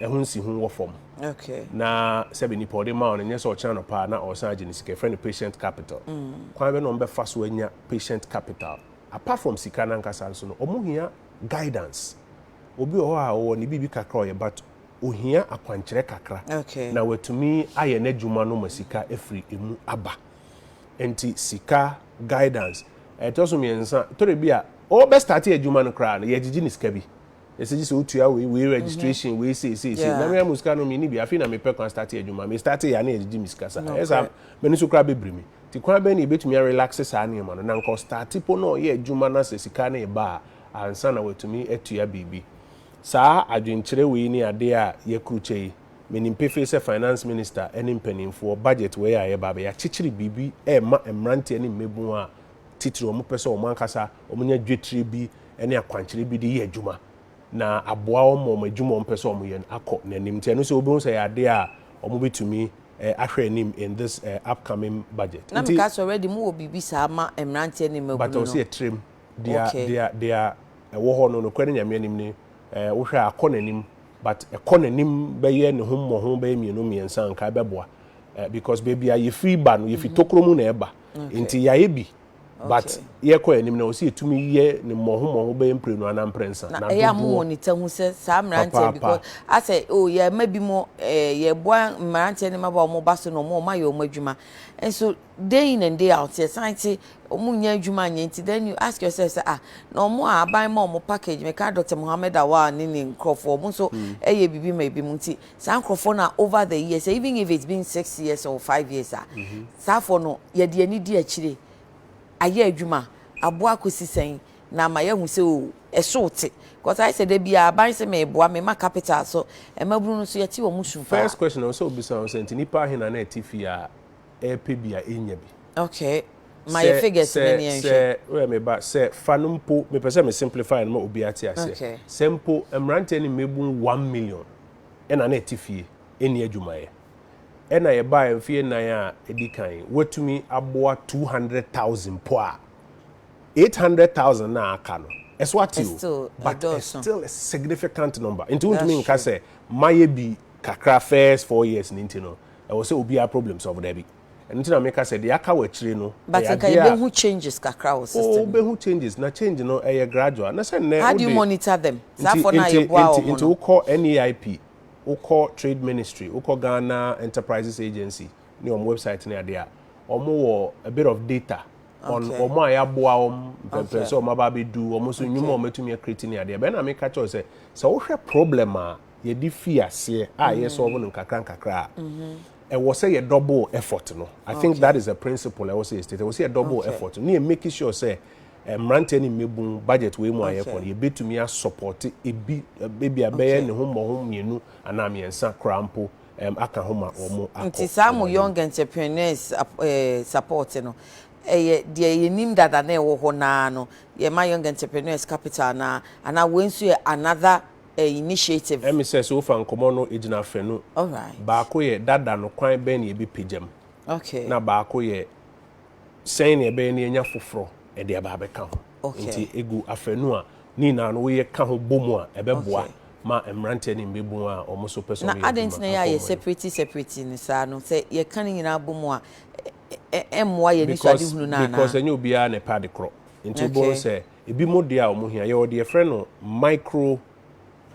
a ɛho nsi ho wɔ fam okay. na sɛbi nipa ɔde ma wɔn nyɛ sɛ ɔkyɛn no paa na ɔsan agye ne sika ɛfrɛ no patient capital mm. kwan bɛ na wɔn bɛfa so anya patient capital apart from sika nankasa nso no wɔn hia guidance obi wɔ hɔ a ɔwɔ ne biribi kakra ɔyɛ but ohia akwankyerɛ kakra okay. na watumi ayɛ n'adwuma no ma sika afiri emu aba. Nti sika, guidance. Ɛtɔ so mmiɛnsa, tore bi a ɔɔbɛ starte adwuma no koraa no yɛgyegye no sika bi. Yɛsɛ gyesɛ otua wei, wei registration, wei sei sei sei. Na me ara mo sika no menni bi. Afei na mepɛ kwan starte adwuma. Me starte yɛ a na yɛgyegye me sika saa. Ɛyɛ saa a m'ani so koraa bɛbiri me. Nti kwan bɛn na yɛbɛtumi a relaxe saa nneɛma no na anka ɔstarte po na ɔyɛ adwuma na sɛ sika no reba a ansa na watumi atua biribi. Saa adwenkyerɛ wei ne adeɛ a yɛkrukyɛ yi. Menim pefee sɛ Finance Minister ne mpaninfoɔ, budget wei a yɛreba abɛyɛ akyekyere biribi rema mmeranteɛ ne mmabun a titire wɔn pɛ sɛ wɔn ankasa wɔn nya dwetire bi ne akwankyerɛ bi de yɛ adwuma na aboa wɔn ma wɔn adwuma a wɔn pɛ sɛ wɔn yɛ no akɔ n'anim nti ɛno nso wobɛhu sɛ ɛyɛ adeɛ a wɔn bɛtumi ahwɛ anim in this upcoming budget. Na meka sɛ already mo wɔ biribi saa ma mmeranteɛ ne mmabunu no. But ɔsɛ yɛ tirem, deɛ deɛ deɛ ɛwɔ hɔ no nokorɛ ne Nyame anim ne wohwɛ a akɔ n'anim but ɛkɔ n'anim bɛyɛ ne ho mmɔho bɛyɛ mmienu mmiɛnsa anka ɛbɛboa eh, because baabi a yɛfiri ba no yɛfiri mm-hmm. tokuro mu na ɛba nti yɛayɛ bi but yɛkɔ anim na ɔsi etumi yɛ ne mmɔho mmɔho bɛyɛ mprenu anaa mprɛnsa na ɛyɛ amu wɔ ne ta ho sɛ saa mmeranteɛ because asɛ o oh, yɛ ɛma bi mo ɛɛ eh, yɛ boa mmeranteɛ ne mmabaa wɔn ba so na wɔn wɔn ayɛ wɔn adwuma nso Day in and day out yɛsan te ɔmo nnya adwuma anyɛ nti then you ask yourself sɛ ah na ɔmo a aban ma ɔmo package meka Doctor Mohammed Awal ne ne nkorɔfoɔ ɔmo nso hmm. ɛyɛ biribi ma ebi mu nti saa nkorɔfoɔ na over the years even if it's been six years or five years a mhm. saa afɔ no yɛde ani di akyire ayɛ adwuma aboa akɔsi sɛn na ama yɛahu sɛ o oh, ɛso te because ayɛ sɛ da bi aban sɛ meboa mema capital so mmabunu no so yɛte wɔn su paa. first question ɔsɛ obisa ɔsɛ nti nipa ahena na ɛte fie a ɛɛpɛ bi a ɛnnya bi. Okay. Ma yɛ figures no ni yɛnhwɛ. Sɛ, sɛ, me ba, sɛ fa no mpo, mepɛ sɛ me simplify no ma obi ate aseɛ. Okay. Sɛ mpo mmeranteɛ ne mmabun one million ɛna na ɛte fie ɛnni adwumayɛ, ɛna yɛbaeɛ mfeɛ nnan a ɛdi kan yi, woatumi aboa two hundred thousand mpo a, eight hundred thousand no a aka no, ɛso ate o, Ɛstill but it's ɛdɔɔso. still a significant number. Nti wontumi That's nka true. sɛ mayɛ bi kakra first four years no nti no. ɛwɔ sɛ obiara problem solve dabi ɛno nti na meka sɛ deɛ aka wɔ akyire no but ɛyɛ nka adeɛ a yɛbɛhu changes kakra wɔ system oh mu wobɛhu changes na change no ɛyɛ gradual na sɛ nnɛ how do you wode monitor them saa nti fɔ no a nti yɛboa nti wɔn nti no wokɔ NAIP wokɔ trade ministry wokɔ Ghana enterprises agency ne wɔn website ne adeɛ a wɔn wɔ a bit of data on okay wɔn a yɛaboa wɔn mpɛmpɛn okay sɛ wɔn aba abɛdu wɔn nso nnwuma a okay wɔatumi akreti ne adeɛ bɛn na meka kyerɛ wo sɛ sɛ wohwɛ problem a yɛde fi aseɛ a yɛ solve no nkakra nkakra a ɛwɔ sɛ yɛ double effort no i think that is a principle ɛwɔ sɛ yɛ state ɛwɔ sɛ yɛ double effort no ne yɛ make sure sɛ eh, mmeranteɛ ne mmɛbun budget wei mu a yɛ fɔ no yɛbɛtumi asupɔte ebi eh, ebi a bɛyɛ ne ho mmɔho mmienu anaa mmiɛnsa koraa mpo um, aka ho ma wɔn akɔ nti saa mo young entrepreneurs eh, support no ɛyɛ deɛ yɛnim dada na ɛwɔ hɔ naa no yɛma young entrepreneurs capital naa anaa wei nso yɛ another eh, initiative. Ɛme sɛ sɛ wofa nkɔmmɔ no ɛgyina afanu baako yɛ dada no kwan bɛn na yɛbɛpagyam na baako yɛ sɛn na ɛbɛyɛ na yɛnya foforɔ ɛde aba abɛka ho nti ɛgu afanu a ne nyinaa no woyɛ ka ho bɔ mu a ɛbɛboa ma mmeranteɛ ne mmɛbun a wɔn nso pɛ sɛ wɔyɛ adwuma na adɛn nti na yɛ a yɛ separate separate no saa no sɛ yɛka ne nyinaa bɔ mu a ɛmmoa yɛ anisoadehunu no anaa because ɛnyɛ obiara na ɛpɛ ade korɔ nti wobɛhu sɛ Ebinom deɛ a wɔhia, yɛwɔ deɛ yɛfrɛ no micro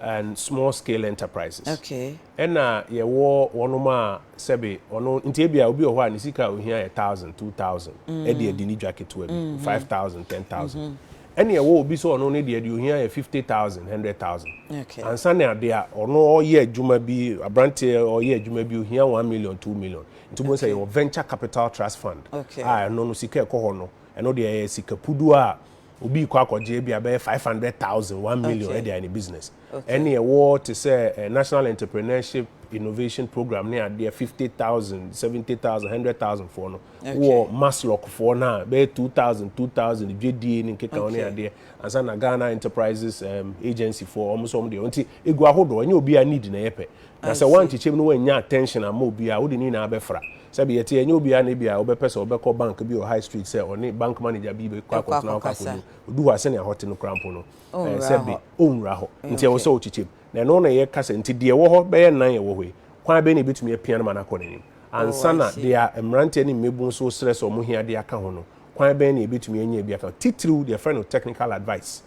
and small scale enterprises. Okay. Ɛna yɛwɔ wɔnom a sɛbe ɔno nti ebia obi wɔ hɔ a ne sika a ohia yɛ thousand, two thousand, mm. ɛde adi ne dwa ketewa bi, mm-hmm. five thousand, ten thousand. Mm-hmm. Ɛna ɛwɔ obi sɛ ɔno ne deɛ deɛ ohia yɛ fifty thousand, hundred thousand. Okay. Ansa na adeɛ a ɔno ɔyɛ adwuma bi, aberanteɛ ɔyɛ adwuma bi ohia one million, two million. Nti mo sɛ yɛwɔ venture capital trust fund. Okay. A ɛno no sika ɛkɔ hɔ no. Ɛno deɛ ɛyɛ sika pudu a obi rekɔ akɔgye bi a bɛyɛ five hundred thousand one million ɛde ayɛ ne business. Ɛne ɛwɔ te sɛ eh, national entrepreneurship innovation program ne adeɛ fifty thousand seventy thousand hundred thousand foɔ no wɔ maslock foɔ no a bɛyɛ two thousand two thousand dwadie ne nkeka ho ne adeɛ ansa na ghana enterprises um, agency foɔ wɔn nso wɔn deɛ nti egu ahodoɔ ɛnyɛ obi a need na ɛyɛ pɛ Na sɛ woankyekyɛm na woannya attention amma obiara a, wode ne nyinaa bɛfra. Sɛbe yɛte yi, ɛnyɛ obiara na ebia ɔbɛpɛ sɛ ɔbɛkɔ bank bi wɔ High Street sɛ ɔne bank manager bi bɛkɔ akɔtena hɔ akɔkasa. Odu hɔ a, sɛnea hɔ te no koraa mpo no, ɛɛ, sɛbe ɔrenwura hɔ. Nti ɛwɔ sɛ ɔkyekyɛm. Na ɛno na yɛka sɛ, nti deɛ ɛwɔ hɔ bɛyɛ nnan a ɛwɔ hɔ yi, kwan bɛn na yɛbɛtumi apia no ma no akɔ n'anim? Ansa na deɛ a mmeranteɛ ne mmabunu nso resrɛ sɛ wɔhia de aka ho no, kwan bɛn na yɛbɛtumi anya bi aka ho? Titiriw deɛ yɛfrɛ no technical advice.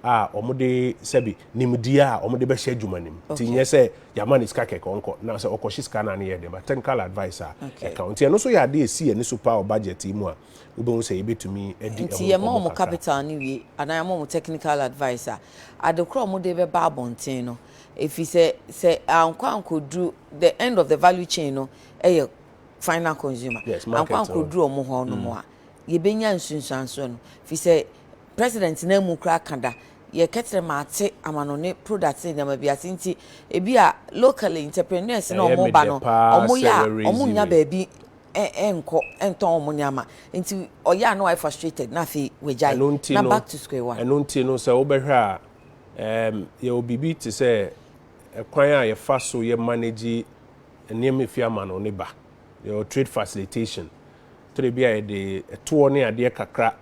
a wɔde sɛbi nimdeɛ a wɔde bɛhyɛ adwuma no mu nti nyɛ sɛ yɛama ne sika kɛkɛ ɔnkɔ na sɛ ɔkɔhye sika no a ne yɛ den ba technical advice a ɛka ho nti ɛno nso yɛ adeɛ ɛsi yɛn ani so paa wɔ budget yi mu a wobɛhu sɛ yɛbɛtumi adi ɛho nti yɛma wɔn capital no wie anaa yɛma wɔn technical advice a ade korɔ a wɔde bɛba abɔnten no ɛfiri sɛ sɛ ankɔ ankɔduru the end of the value chain no ɛyɛ final consumer yes, ankɔ ankɔduru wɔn hɔ no mu a mm. yɛbɛnya nsunsuansoɔ no firi sɛ President no amu koraa ka da. Yɛ kɛterɛ maate amanone products ne nneɛma bi ase nti ebi a locally entrepreneurs na ɔmo ba no ɔmo yɛ a ɔmo nnya baabi nkɔ ntɔn ɔmo nneɛma nti ɔyɛ a na wayɛ frustrated na afei wagyae na back to square one. Ɛno nti no sɛ wo bɛhwɛ a ɛɛm yɛwɔ biribi te sɛ ɛkwan a yɛfa so yɛ manage nneɛma efi amanone ba yɛwɔ trade facilitation tɔ de bi a yɛde ɛtoɔ ne adeɛ kakra.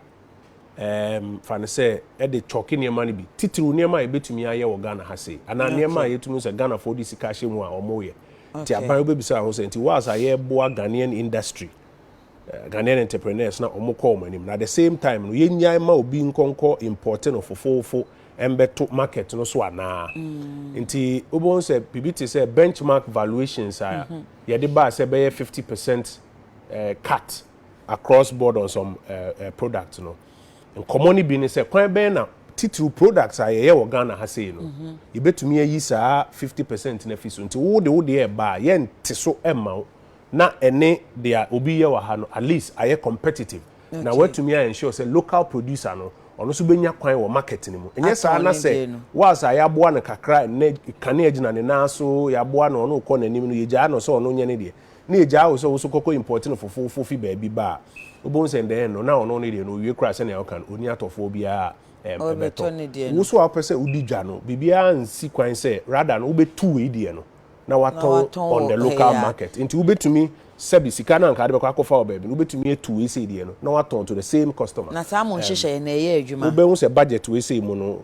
ɛɛm, fa no sɛ ɛde kyɔɔke nneɛma no bi, titiriw nneɛma a yɛbɛtumi ayɛ wɔ Ghana ha sei, anaa nneɛma a Okay. yɛtumi hu sɛ Ghanafoɔ de sika ahyɛ mu a wɔyɛ. Nti Okay. aban wobɛbisa ho sɛ, nti whilst a yɛreboa Ghanaian industry, eh, Ghanaian entrepreneurs na wɔkɔ wɔn anim, na at the same time no, yɛnnyae mma obi nkɔnkɔ importe no fofoofo mmɛto market no so anaa? Nti wobɛhu sɛ biribi te sɛ benchmark valuations a yɛde baa sɛ ɛbɛyɛ 50 percent eh, cut Across Board on Some Products no, nkɔmmɔ no bi ne sɛ, kwan bɛn na titiriw products a yɛyɛ wɔ Ghana ha sei no, mhm. yɛbɛtumi ayi saa 50 percent no afi so? Nti wo de wo deɛ ɛba a, yɛnte so mma wo na ɛne deɛ obi yɛ wɔ ha no, at least ayɛ competitive. Na watumi ayɛ ensure sɛ local producer no, ɔno nso bɛnya kwan wɔ market no mu. Ɛnyɛ saa na sɛ was a yɛaboa no kakra, nnɛ kanea gyina ne nan so, yɛaboa no, ɔno rekɔ n'anim no, yɛgyaa no sɛ ɔno nyɛ ne deɛ. na egyaa wo sɛ wo nso kɔkɔ import no fofoofo fi baabi ba a, wobɛhu sɛ ndɛɛ no na ɔno ne deɛ no ɔwie koraa sɛnea woka no, ɔnni atɔfoɔ biara a ɛbɛtɔ. Wo nso a wopɛ sɛ wodi dwa no, biribiara nsi kwan sɛ rather no wobɛtu wei deɛ no na woatɔn on the local market. Nti wobɛtumi sɛbi sika no a anka wode bɛkɔ akɔfa wɔ baabi no, wobɛtumi atu wei sei deɛ no na woatɔn to the same customer. Na saa mo nhyehyɛeɛ no ɛyɛ adwuma? Wobɛhu sɛ budget wei sei mu no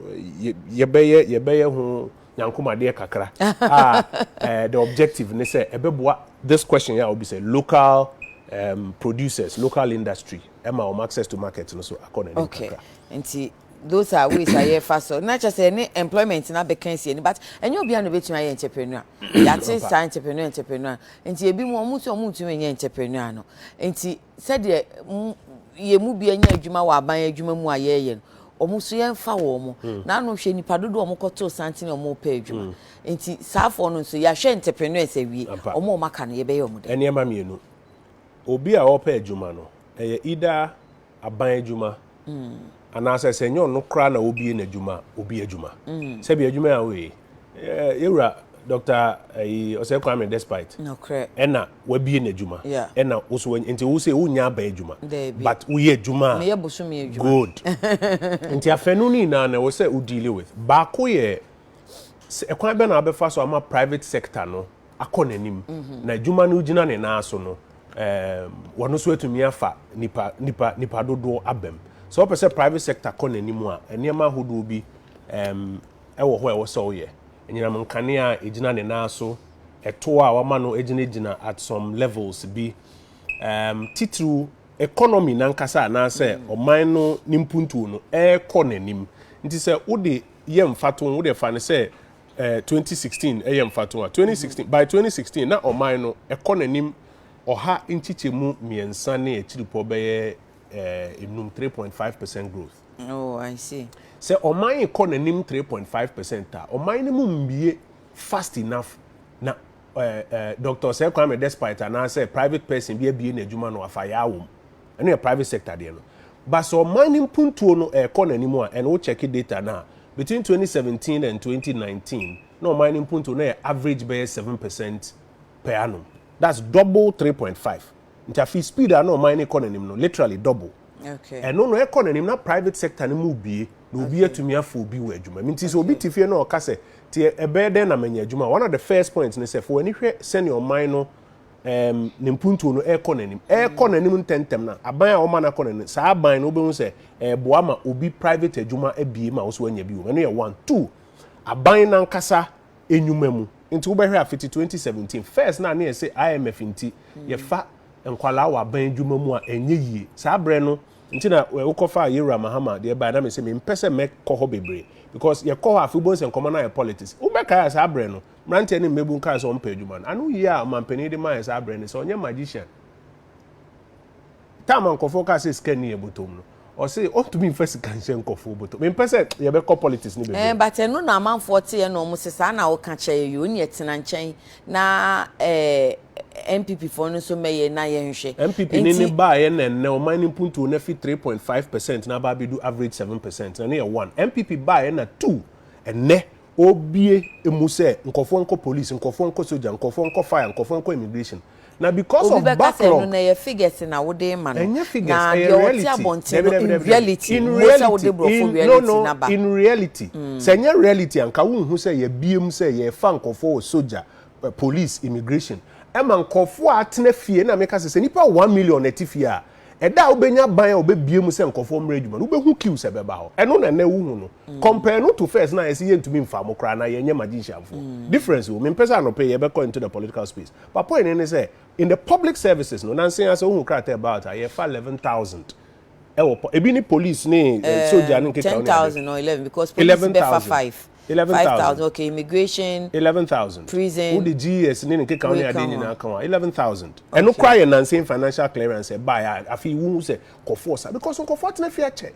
yɛbɛyɛ yɛbɛyɛ ho. nyankomadeɛ kakra a eh, the objective ne sɛ ɛbɛboa this question yɛ a obi sɛ local um, producers local industry ɛma wɔn access to market no so akɔ n'anim okay. kakra nti those are ways a yɛfa so na kyɛ sɛ ɛne employment na bɛka asi ani but ɛnyɛ obiara na obɛtumi ayɛ entrepreneur yɛate saa entrepreneur entrepreneur nti ebi mu ɔmo nso ɔmo ntumi nyɛ entrepreneur no nti sɛdeɛ yɛn mu bi anya adwuma wɔ aban adwuma mu a yɛreyɛ no wɔn nso yɛmfa wɔn mo hmm. n'ano hwɛ nipa dodo wɔn kɔtoo santene wɔn repɛ adwuma hmm. nti saafoɔ no nso yɛahwɛ entrepreneurs awie wɔn wɔn aka no yɛbɛyɛ wɔn dɛ. nneɛma mmienu obi a ɔrepɛ adwuma no ɛyɛ ida aban adwuma anaasɛ sɛ ɛnyɛ ɔno koraa na obie n'adwuma a obi adwuma sɛbi adwuma a woyɛ yɛwura dr ayi ɔsɛ kwame despite ɛna wabie n'adwuma ɛna woso nti wo sɛ wonya aba adwuma but woyɛ adwuma a good nti afɛnu no nyinaa na ɛwɔ sɛ wo deal with baako yɛ ɛkwan bɛ na wabɛfa so ama private sector no akɔ n'anim na adwuma no gyina ne nan so no wɔn nso atumi afa nipa nipa nipa dodoɔ abam sɛ wɔpɛ sɛ private sector kɔ n'anim a nneɛma ahodoɔ bi ɛwɔ hɔ a ɛwɔ sɛ ɔyɛ anyinam nkanea a egyina ne nan so ɛtoɔ a wɔama no gyinagyina at some levels bi um, titiriw economy nankasa anaasɛ mm. ɔman no ne mpuntuo no ɛrekɔ n'anim nti sɛ wode yɛ mfato wode fa no sɛ Eh, twenty sixteen yɛ mfatoa. Twenty sixteen, by twenty sixteen na ɔman no ɛkɔ n'anim ɔha nkyekyɛmu mmiɛnsa ne akyiripɔ bɛyɛ eh, enum, three point five percent growth. Oh, I see. Sɛ ɔman kɔ n'anim three point five percent a, ɔman no mu mmie fast enough na eh, eh, Doctor Sir Kwame Despite anaasɛ private person bi abie n'adwuma na wafa yaa wɔm. ɛno yɛ private sector deɛ no but sɛ ɔman no mpuntuo no ɛrekɔ n'anim a ɛno wo check data no a between 2017 and 2019 na ɔman no mpuntuo na yɛ average bɛyɛ 7 percent per annum that's double 3.5 nti afei speed a na ɔman no kɔ n'anim no literally double Okay. ɛno no ɛkɔ n'anim na private sector no mu bie na obi atumi afɔ obi wɔ adwuma mu nti sɛ obi te fie na ɔka sɛ te ɛbɛyɛ dɛn na manya adwuma one of the first points ne sɛ fo w'ani hwɛ sɛnea ɔman no Ɛɛm, ne mpuntuo no rekɔ n'anim, ɛrekɔ n'anim ntɛmntɛm na aban a wɔma no akɔ n'anim, saa aban no wobɛhu sɛ ɛreboa ma obi private adwuma abie ma wo so anya bi wom. Ɛno yɛ one. Two, aban no ankasa nnwuma mu. Nti wobɛhwɛ a fiti 2017, first no a ne yɛse IMF nti yɛfa nkwadaa wɔ aban adwuma mu a ɛnyɛ yie. Saa berɛ no, nti na wokɔfaa Yewura Mahama deɛ baeɛ na mese mempɛ sɛ mɛkɔ hɔ bebree because yɛkɔ hɔ a afei wobɛhu sɛ nkɔmmɔ no ayɛ politics. Wobɛkae a saa berɛ no, Mmeranteɛ ne mmabun kaa sɛ wɔmpɛ adwuma no. Ano yie a ɔmanpanin de maaeɛ saa berɛ ne sɛ ɔnyɛ magician. Time a nkurɔfoɔ kaa sɛ sika nni yɛn bɔtɔm no, ɔse ɔntumi mfa sika nhyɛ nkurɔfoɔ bɔtɔm. Mempɛ sɛ yɛbɛkɔ politics no bebree. But ɛno na amanfoɔ teɛ na wɔn se saa na woka kyɛɛ yɛ woneɛ tena nkyɛn na eh NPP foɔ no nso mɛyɛ na yɛnhwɛ. NPP ne ne baaeɛ na ɛnnɛ ɔman no mpuntuo no afi three point five percent na aba abɛdu average seven percent na ne yɛ one. NPP baaeɛ na two ɛnnɛ Obue emu sɛ nkurɔfoɔ nkɔ police, nkurɔfoɔ nkɔ sogya, nkurɔfoɔ nkɔ fire, nkurɔfoɔ nkɔ immigration. Na because Obi of bɛka sɛ ɛno backlog. no ɛyɛ figures na wode rema no. Ɛnyɛ figures, Na ɛyɛ deɛ ɔte reality. abɔnten Dabi, no dabi, in dabi, dabi. reality, In mmo sɛ reality, wode borɔfo in, no, reality no, no aba. in reality. Sɛ ɛnyɛ reality a, anka wonhu sɛ yɛabue mu sɛ yɛrefa nkurɔfoɔ wɔ sogya, eh, police, immigration. Ɛma nkurɔfoɔ a atena fie, ɛna meka sɛ, sɛ nnipa one million na ɛte fie a, Ɛda a wobɛnya ban a wɔbɛbue mu sɛ nkɔfoɔ mmerɛ adwuma no, wobɛhu queue sɛ bɛba hɔ. Ɛno na ɛnɛ wohu no. Mm. Compare no to first na ayɛ sɛ yɛntumi mfa mo koraa anaa yɛnyɛ magicianfoɔ. Mm. Difference wɔ mu. Mempɛ sɛ anɔpɛ yɛbɛkɔ into the political space. But point ne ne sɛ, in the public services no, nansa yi ara sɛ wohu krataa about a, yɛfa 11,000 ɛwɔ, ebi ne police ne eh, eh, soja ne nkeka ne ade. 10,000 or 11 because police bɛfa 5. eleven thousand. Five thousand, okay, immigration. Eleven thousand. Prison. Wo de GS ne ne keka wo ne adeɛ nyinaa ka ho a, eleven thousand. Ɛno koraa yɛ nansen financial clearance ɛbaeɛ a afei wo hu sɛ nkɔfoɔ sa because nkɔfoɔ atena fie akyɛ.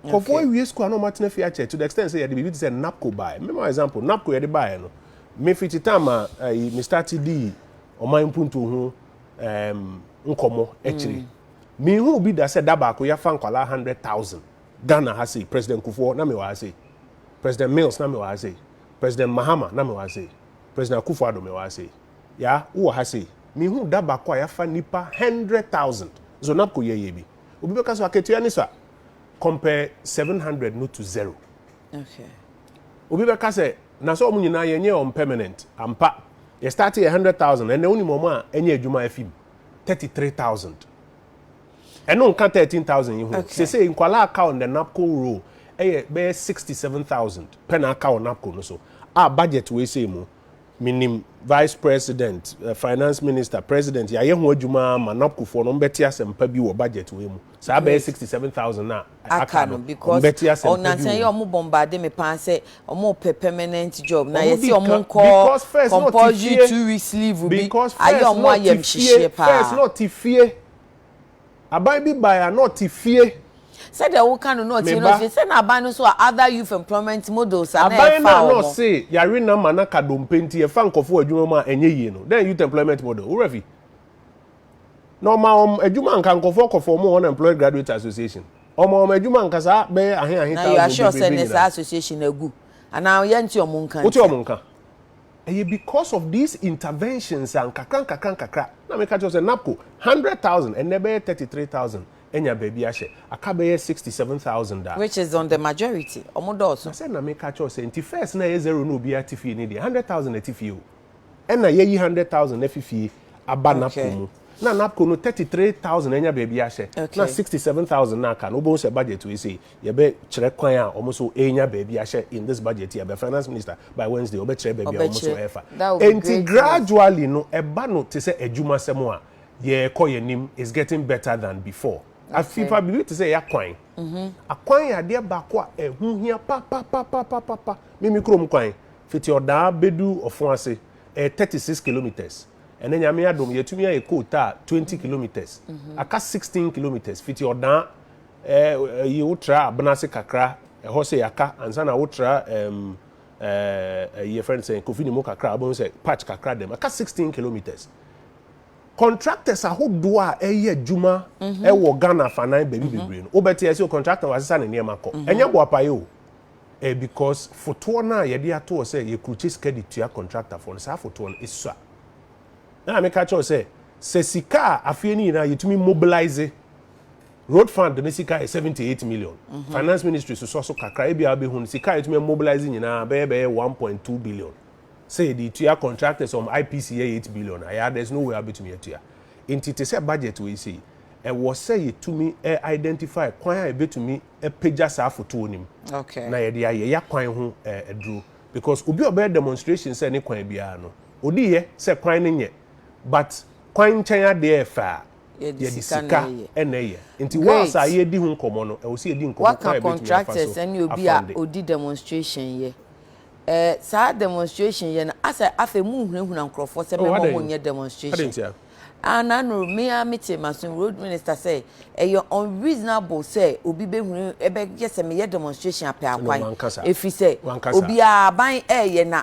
Nkɔfoɔ awie school a na wɔn atena fie akyɛ to the extent sɛ yɛde biribi te sɛ NAPCO baeɛ. Mema example, NAPCO yɛde baeɛ no, me firi Kyitama ɛyi eh, me start di ɔman mpuntuo ho ɛɛm nkɔmɔ akyire. Mm. Mehu bi da sɛ da baako yɛafa nkwadaa hundred thousand. Ghana ha sei, President Kufuor, na mewɔ ha sei, President Mills, na mewɔ ha sei, President Mahama, na mewɔ ha sei, President Akufo Addo, mewɔ ha sei. Yaa, wowɔ ha sei. Menhuu da baako a yɛafa nnipa hundred thousand. Zonabco yɛ yɛ bi. Obi bɛka sɛ akatua ni sa. Compare seven hundred no to zero. Obi bɛka sɛ, na sɛ wɔn nyinaa yɛnyɛɛ wɔn permanent. Ampa. Yɛstartee yɛ hundred thousand, ɛnnɛ wonim wɔn a ɛnyɛ adwuma a afi mu? Thirty three thousand. Ɛno nka thirteen thousand yi ho. Okay. Sese nkwalaa aka on the napco roll ɛyɛ bɛyɛ sixty seven thousand pɛ na aka wɔ napco no so a budget wei sei mu menim vice president eh, finance minister president yɛayɛ ho adwuma ara ma napco foɔ no ɔmbɛte asɛm pa bi wɔ budget wei mu saa bɛyɛ Great. sixty seven thousand na aka aka no no because ɔmbɛte asɛm pa bi ɔnansa wɔ yi mu. ɔmo bombade me paa sɛ ɔmo pɛ permanent job na Ɔmo yɛsi di ɔmo kan- nkɔ because first na ɔte compulsory fie. two weeks leave bi Because ayɛ first ɔmo na ɔte fie, ayɛmhyehyeɛ paa first na ɔte fie Aban bi bae a na ɔte fie. Sɛdeɛ woka no na ɔte na ɔte fie. Sɛ na aban no nso a other youth employment models a na ɛfa wɔn. Aban no a na ɔse yare nam a na ka dompe nti yɛfa nkɔfo wɔ adwuma mu a ɛnyɛ yie no, dɛn youth employment model? Wo werɛ afi? Na ɔma wɔn adwuma anka nkɔfoɔ kɔ fɔɔm wɔn employed graduate association. Ɔma wɔn adwuma anka saa bɛyɛ ahe ahe thousand bebrebe nyinaa. Na you are sure sɛ ne saa association no agu? Anaa yɛnte wɔn nka ntia? Wote wɔn nka. Ɛyɛ because of these interventions a nkakra nkakra nkakra na meka kyerɛ wo sɛ NABCO hundred thousand ɛnnɛ ɛbɛyɛ thirty three thousand anya baabi ahyɛ, aka bɛyɛ sixty seven thousand a. Which is on the majority, ɔmo dɔɔso. Na sɛ na meka kyerɛ wo sɛ nti first na ɛyɛ zero na obiara te fie no deɛ hundred thousand na ɛte fie o. Ɛna yɛayi hundred thousand afi fie aba NABCO mu. Na NABCO no thirty three thousand anya baabi ahyɛ na sixty seven thousand na aka no wobɛhu sɛ budget wei sei Yɛbɛkyerɛ kwan a wɔn nso renya baabi ahyɛ in this budget year by finance minister by Wednesday ɔbɛkyerɛ baabi a wɔn nso refa. Enti gradually no ɛba no te sɛ adwumasɛm a yɛrekɔ yɛn anim is getting better than before. Afei paa biribi te sɛ yɛ akwan. Akwan yɛ adeɛ baako a ɛho hia papapapapapa. Me me kurom kwan fiti ɔdaa bɛdu ɔfon ase ɛyɛ thirty six kilometres ɛnɛ nyame adom yɛatumi ayɛ coal tar twenty kilometres aka sixteen kilometres fiti ɔdaa Ɛɛ, yi wo tra abena ase kakra, ɛhɔ sɛ yɛaka, ansa na wo tra ɛɛm ɛɛ yi yɛfrɛ no sɛn, Kofi ne mu kakra a, wobɛhu sɛ patch kakra da mu. Ɛka sixteen kilometres. Contractors ahodoɔ a ɛyɛ adwuma ɛwɔ Ghana afanan baabi bebree no, wobɛte ɛsɛ o contractor wasesa ne nneɛma kɔ. Ɛnyɛ boapaeɛ o. Ɛyɛ because fotoɔ no a yɛde ato hɔ sɛ yɛkrukye sika de tua contractor foɔ no, saa fotoɔ no esua. Ɛna meka kyerɛ wo sɛ, sɛ sika a afeɛ no nyinaa yɛtumi mobilise, Road fund ne sika yɛ seventy eight million. Mhm. Finance ministry susɔ so kakra ebi a wobɛhu no sika a yɛtumi mobilize nyinaa bɛyɛ bɛyɛ one point two billion. Sɛ yɛde tua contractors wɔn IPC yɛ eight billion a yɛa there's no way a wobɛtumi atua. Nti te sɛ budget wei sei ɛwɔ sɛ yɛtumi ɛ identify kwan a yɛbɛtumi apagya saa fotoɔ no mu okay. na yɛde ayɛ ya kwan ho ɛ aduro because obi a ɔbɛyɛ demonstration sɛ ne kwan biara no ɔdiyɛ sɛ kwan no nyɛ but kwan nkyɛn adeɛ ɛfɛ a yɛde sika na ɛyɛ. ɛna ɛyɛ. Nti whilst a yɛredi ho nkɔmmɔ no, ɛwɔ sɛ yɛdi nkɔmmɔ kwan a yɛbɛtumi afa so afa ne obi a ɔdi demonstration yɛ. Eh, saa demonstration yɛ no, asɛ afei monhunahuna nkurɔfoɔ sɛ mɛma wɔn nyɛ demonstration. Ah, nano, me ara mete maso road minister sɛ ɛyɛ unreasonable sɛ obi bɛhunu ɛbɛyɛ sɛ meyɛ demonstration apɛ akwan. Ɛfiri sɛ, obiara aban ɛyɛ na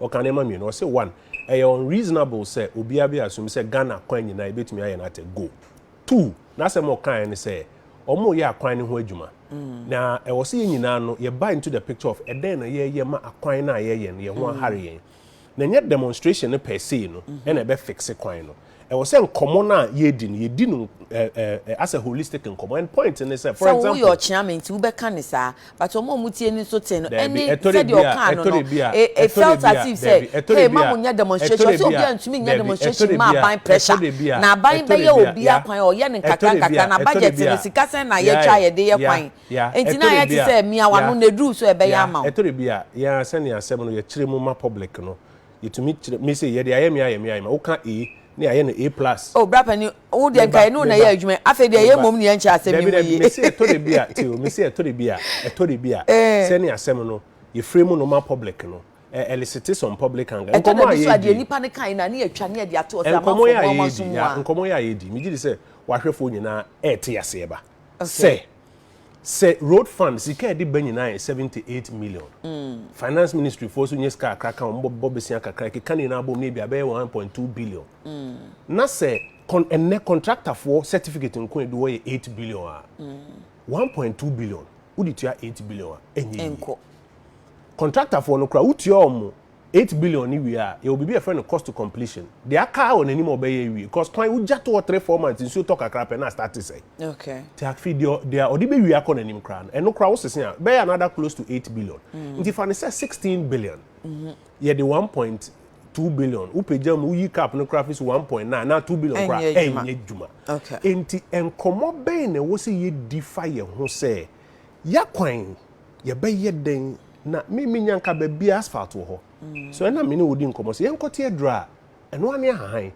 Ɔka nneɛma mmienu. Ɔse one, ɛyɛ unreasonable sɛ obiara bɛ assume sɛ Ghana akwan nyinaa yɛbɛtumi ayɛ no at a go. Two, n'asɛm a ɔkaeɛ ne sɛ wɔreyɛ akwan no ho adwuma. Na ɛwɔ sɛ yɛn nyinaa no yɛba into the picture of ɛdɛn na yɛreyɛ ma akwan no a yɛreyɛ no yɛn ho ahare yɛn. Na ɛnyɛ demonstration no per se no na ɛbɛ fixe kwan no. Ɛwɔ sɛ nkɔmmɔ no a yɛredi no, yɛdi no as a holistic nkɔmmɔ. And point ne sɛ, for example. Sɛ woyɛ ɔkyeame nti wobɛka no saa, but wɔn a wɔtie no nso te no ɛne sɛdeɛ ɔkaa no no, it felt as if sɛ, hey, ma monyɛ demonstration. Ɔsɛ obiara ntumi nyɛ demonstration ma aban pressure. Na aban bɛyɛ obiara kwan, ɔyɛ no nkakra nkakra. Na budget no, sika sɛn na yɛtwa a yɛde yɛ kwan? Nti na ayɛ te sɛ mia w'ano na ɛduru so a ɛbɛyɛ ama wo. Ɛtɔ da bi a, yɛn ara sɛdeɛ asɛm no yɛkyerɛ mu ma public no, yɛtumi kyerɛ me sɛ yɛde ayɛ me ayɛ me ayɛ me woka A ne ayɛ no A plus. Oh bra pani wo deɛ nka ɛne wo na ɛyɛ adwuma afei deɛ ɛyɛ mmom ne yɛn kyerɛ asɛm no mu yie. Mese ɛtɔ da bi a tio mese ɛtɔ da bi a ɛtɔ da bi a sɛne asɛm no yɛfrɛ mu no ma public no ɛlisite some public anger nkɔmɔ a yɛdi. Ɛtɔ da bi so a deɛ nipa no kan na ne yɛtwa ne yɛde ato ɔsɛ amanfoɔ mu amanso mu a. Nkɔmɔ yɛ a yɛdi megye di sɛ wahwɛfoɔ nyinaa ɛte aseɛ ba sɛ. Sɛ road fund sika ɛde ba nyinaa yɛ seventy eight million. Mm. Finance ministry foɔ so nye sika akra ka wɔn bɔ besia kakra keka ne nyinaa bom ne ebi abɛyɛ one point two billion. Mm. Na sɛ kon ɛnɛ contractor foɔ certificate nko edu hɔ yɛ eight billion a. Mm. One point two billion wodi tua eight billion a enye yi. Contractor foɔ no kora wotua wɔn Eight billion no wie a, yɛwɔ biribi a yɛfrɛ no cost to completion. Deɛ aka ara wɔ n'anim a ɔbɛyɛ awie. Because kwan, wogya to hɔ three, four months, nsuo tɔ kakra pɛ na astarte sɛe. Okay. Nti afei deɛ, deɛ ɔde bɛwie akɔ n'anim koraa no, ɛno koraa wosese a, ɛbɛyɛ another close to eight billion. Nti fa no sɛ sixteen billion. Yɛde one point two billion, wopagya mu, woyi cap no koraa fi so, one point nine anaa two billion koraa a, Ɛnyɛ adwuma. ɛnyɛ adwuma. Okay. Nti nkɔmmɔ bɛn na ɛwɔ sɛ yɛdi fa yɛn ho sɛ, yɛakwan, Yɛbɛyɛ dɛn na me menya nka baabi asphalt wɔ hɔ? So ɛna me ne wo di nkɔmmɔ sɛ yɛnkɔte aduru a ɛno ara ne ahahan?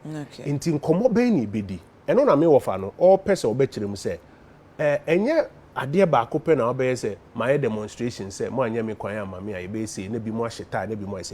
Enti nkɔmmɔ bɛn na yɛbɛdi? Ɛno na me wɔfa no ɔrepɛ sɛ ɔbɛkyerɛ mu sɛ, eh, ɛnyɛ adeɛ baako pɛ na wobɛyɛ sɛ mayɛ demonstration sɛ moanyɛ me kwan amma me a yɛbɛyɛ sei na binom ahyɛ tie na binom ayɛ sei.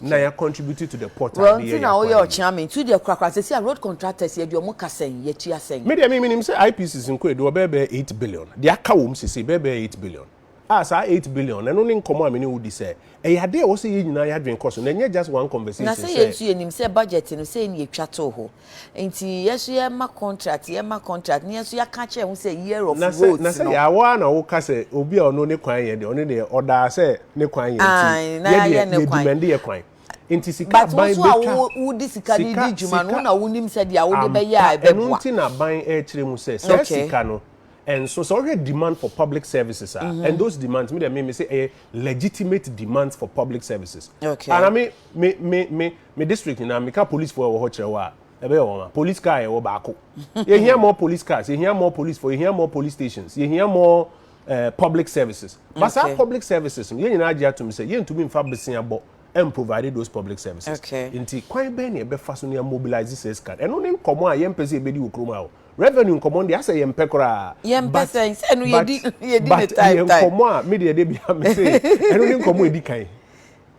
na yɛ contribute to the pot a ɔde yɛ yɛ akwan yi. Well nti na woyɛ ɔkyea me nti wodeɛ korakora sɛsi a road contractors yɛde ɔmo ka sɛn yɛtua sɛn. Me deɛ me menim sɛ IPCs nko ɛde wɔ bɛyɛ bɛyɛ eight billion deɛ aka wɔ mu sɛsei bɛyɛ bɛyɛ eight billion a saa eight billion no ɛno ne nkɔmɔ a me ne wo di sɛ ɛyɛ adeɛ a ɛwɔ sɛ yɛn nyinaa yɛ adwene kɔ so na ɛnyɛ just one conversation sɛ. Na sɛ yɛn nso yɛnim sɛ budget no sɛi na yɛtwa too hɔ Nti yɛ so yɛ ma contract yɛ ma contract na yɛ so yɛ ka kyerɛ ho sɛ year of vote no. Na sɛ yɛ awɔ ara na wo ka sɛ obi a ɔno ne kwan yɛ deɛ ɔno deɛ ɔdaa sɛ ne kwan yɛ nti yɛ deɛ yɛ dimɛndi yɛ kwan. Nti sika ban bɛtwa. But wo so a wo de sika no di dwuma no na wo nim sɛ deɛ wo de bɛyɛ a ɛbɛboa. Ampa ɛno nti na ban ɛkyerɛ mu sɛ sɛ sika no ɛnso sɛ ɔhwɛ demand for public services a and those demands mi deɛ mi mi sɛ ɛyɛ legitimate demands for public services. Okay. Ana mi mi mi mi. Me district nyinaa meka police fo a ɛwɔ hɔ kyerɛ wo a ɛbɛyɛ wɔn a police car yɛwɔ baako yɛhia more police cars yɛhia more police fo yɛhia more police stations yɛhia more uh, public services but saa okay. public services no yɛn nyinaa agye atom sɛ yɛntumi mfa besia bɔ and provide those public services okay. nti kwan bɛn na ɛbɛfa so ne mobilize sɛ sika ɛno ne nkɔmɔ a yɛmpɛ sɛ yɛbɛdi wɔ kurom ha o revenue nkɔmɔ deɛ asɛ yɛmpɛ koraa yɛmpɛ sɛ sɛ no yɛdi yɛdi ne time time nkɔmɔ a medeɛ de bia me se ɛno ne nkɔmɔ ɛdi kan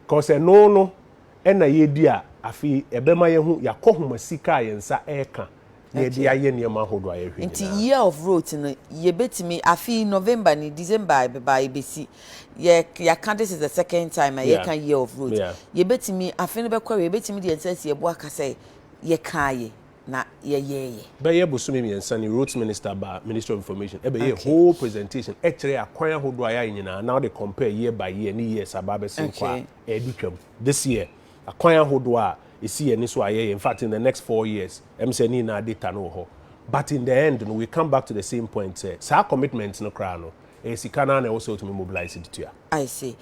kɔsɛ no no na yɛredi a, afei ɛbɛma yɛahu yɛakɔnhomasi a yɛn nsa reka na yɛde ayɛ nneɛma ahodoɔ a yɛhwɛ nyinaa. Nti year of rote no yɛbɛtumi, afe yi November ni, December ɛbɛba a yɛbɛsi, yɛ yɛaka this is the second time a yɛreka year of rote, Yeah. yɛbɛtumi, afe no bɛkɔ awiei, yɛbɛtumi de yɛn nsa asi yɛn bo aka sɛ yɛkaeɛ na yɛyɛeɛ. Bɛyɛ bosome mmiɛnsa ni, rote minister baa Ministry of Information ɛbɛyɛɛ Okay. whole presentation ɛkyerɛɛ akwan ahodoɔ a yɛayɛ nyinaa na wode compare year by year ne years a aba abɛsen kɔ a, Okay. ɛredi twam this year, akwan ahodoɔ a ɛsi yɛn ani so a yɛyɛ, infact in the next four years, ɛm sɛ ne nyinaa data no wɔ hɔ, but in the end no we come back to the same point sɛ saa commitment no koraa no ɛyɛ sika no ara na ɛwɔ sɛ wotumi mobilise de tua. I see.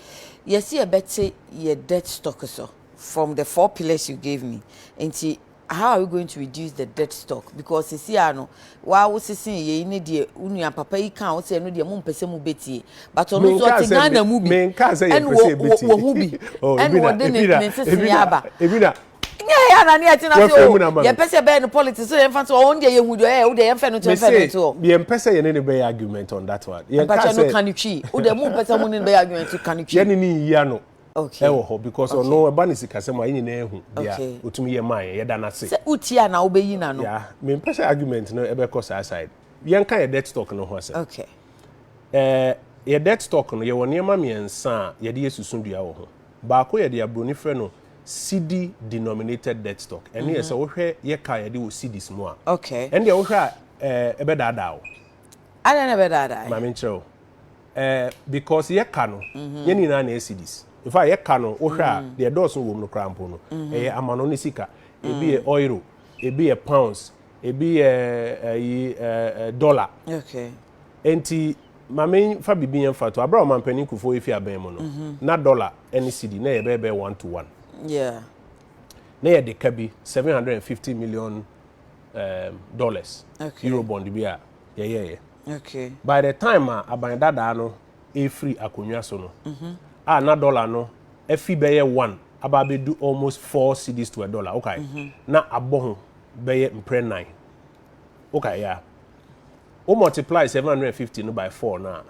Yɛse yɛbɛte yɛ debt stock so from the four pillars you gave me nti. How are we going to reduce the dead stock because sisi a no waa wo sesee yei ne deɛ wo nua papa yi kaa wo sɛ ɛno deɛ mo mpɛ sɛ mo bɛtie but ɔno nso ɔte Ghana mu bi ɛna wɔ ho bi oh, ɛna wɔde ne ne nsesee aba nyɛ yɛ anani ɛte na se o yɛ pɛ sɛ bɛyɛ no politics so yɛn fa so ɔn deɛ yɛ hu deɛ ɛyɛ o deɛ yɛn fɛ no to yɛn fɛ no to o. yɛn pɛ sɛ yɛn ne ne bɛyɛ argument on that one. yɛn ka sɛ mpakyɛ no kan ne twi o deɛ mo mpɛ sɛ mo ne ne bɛyɛ argument kan ne twi. yɛn ne ne yia no. okay ɛwɔ hɔ because okay. ɔno ɛba ne sikasɛm a yɛn nyinaa ehu deɛ okay. otumi yɛ maa yɛn yɛda n'ase. sɛ uti a na wobɛyi n'ano. ya mempɛ sɛ argument no ɛbɛkɔ saa side yɛn ka yɛ death talk no ho asɛm. okay. ɛɛ yɛ death talk no yɛwɔ nneɛma mmiɛnsa a yɛde yɛ susu dua wɔ ho baako yɛde aburoni frɛ no cd denominated death talk ɛne yɛ mhm. sɛ wohwɛ yɛ ka yɛde wɔ cds mu a. okay. ɛne deɛ wohwɛ a ɛɛ ɛbɛdaadaa o. adan na ɛbɛdaadaa. maame nkyerɛ o. eh, because yɛka no mhm. yɛn nyinaa na ɛyɛ cedis nfa yɛka no wohwɛ a mhm. deɛ dɔɔso wɔ mu no koraa mpo no mhm. ɛyɛ amano ne sika ebi yɛ euro ebi yɛ pounds ebi yɛ ɛyi ɛɛ dollar nti maame fa bibi yɛn fa to abira ɔman panyin kufo efi abɛn mu no na dollar ɛne cedi na yɛ bɛɛ bɛɛ one to one na yɛ de ka bi seven hundred and fifty million um, dollars euro bond bi a yɛyɛ yɛ. Okay. By the time a aban dadaa no refiri akonnwa so no, a na dollar no afi bɛyɛ one aba abɛdu almost four cedis to a dollar, okay? Na abɔ ho bɛyɛ mprɛ nan. Okay, yeah. Wo multiply 750 no by four no a,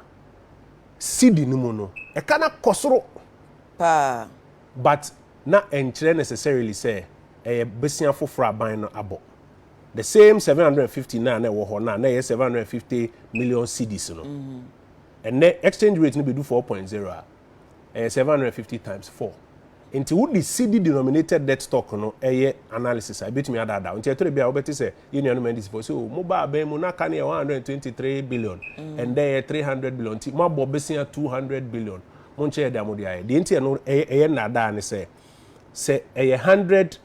cedi no mu no, ɛka na kɔ soro. Paa. But na ɛnkyerɛ necessarily sɛ ɛyɛ bosea foforɔ aban no abɔ. The same seven hundred and fifty na na ɛwɔ hɔ na na ɛyɛ seven hundred and fifty million cedis no. Ɛnɛ mm-hmm. exchange rate no bɛdu four point zero a ɛyɛ seven hundred and fifty times four. Nti wode cedi denominated debt stock no ɛyɛ analysis a ebetumi adaadaa. Nti ɛtɔrɔ bi a wobɛte sɛ yɛn nuanom ɛndi sifo sɛ o oh, mo ba abɛn mu n'aka no yɛ one hundred and twenty three billion mm. ɛnɛ yɛ three hundred billion nti mo abɔ besia two hundred billion mo nkyɛn yɛ de amode ayɛ. Deɛ nti ɛno ɛyɛ ɛyɛ nnaadaa ne sɛ sɛ ɛyɛ hundred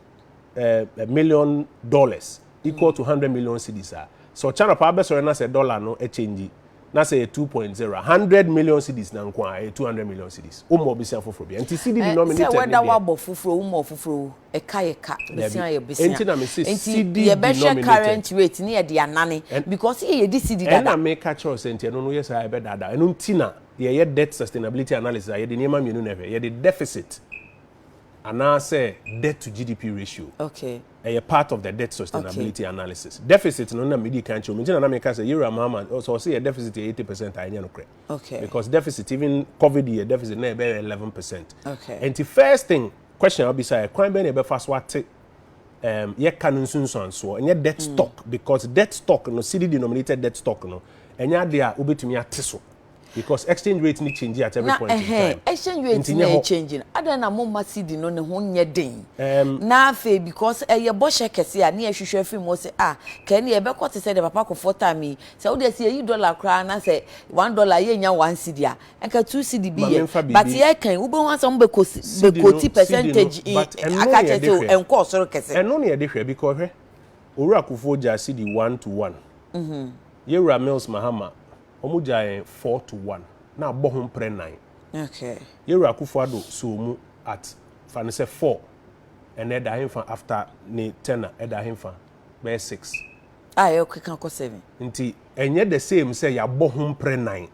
eh, a million dollars equal to hundred million cedis a sɛ ɔkyɛ anɔpa abɛsɔre na sɛ dollar no ɛkyɛngyi na sɛ yɛ two point zero a hundred million cedis na nko a ɛyɛ two hundred million cedis o mu ɔbɛsia foforɔ bi nti cedi eh, denominator ne deɛ sɛ wɔda wabɔ foforɔ o mu ɔfoforɔ ɛka yɛ ka bɛsia yɛ bɛsia nti na mi se cedi denominator current rate ne yɛ de anane because yɛ yɛ di cedi dada ɛna mi ka kyerɛw sɛ nti ɛno no yɛ saa ɛbɛ dada ɛno nti na yɛ yɛ debt sustainability analysis a yɛ de nneɛma mmienu na ɛhwɛ yɛ de deficit anaasɛ debt to GDP ratio. Okay. Ɛyɛ part of the debt sustainability okay. analysis. Deficit no na medi kan kyerɛ mu nti na na meka sɛ Yewura Mahama sɛ ɔsɛ yɛ deficit yɛ eighty percent a ɛnyɛ no korɛ. Okay. Because deficit even COVID yɛ deficit na ɛbɛyɛ eleven percent. Okay. Nti first thing question a wobisa yɛ kwan bɛn na ɛbɛfa so ate um, yɛka no nsunsuansoɔ ɛnyɛ debt mm. stock because debt stock no city denominated debt stock no ɛnyɛ adeɛ a wobɛtumi ate so. because exchange rate ni change at every na, point in time na exchange rate ni na change no adan na mo ma cd no ne ho nyɛ den um, na afei because ɛyɛ bɔhyɛ kɛse a ne yɛhwehwɛ afiri mu sɛ a ah, kɛɛ ne yɛbɛkɔ te sɛ de papa kɔfɔ time yi sɛ wode sɛ yɛyi dollar koraa na sɛ one dollar yɛnya one cd a ɛka two cd bi yɛ but yɛkan wobɛhu asɛ mo bɛkɔti percentage aka kyɛ sɛ ɛnkɔɔ soro kɛse ɛno ne yɛde hwɛ because hwɛ owura kofoɔ gyaa cd one to one mm-hmm. yɛwura mills mahama Wɔn gyaa yɛn four to one na abɔ ho mprɛ nan. Okay. Yɛn wura Akufo Addo sɔɔ mu at fa no sɛ four ɛna ɛda henfa after ne tenure ɛda henfa bɛyɛ six. A yɛ keka kɔ seven. Nti ɛnyɛ the same sɛ yabɔ ho mprɛ nan.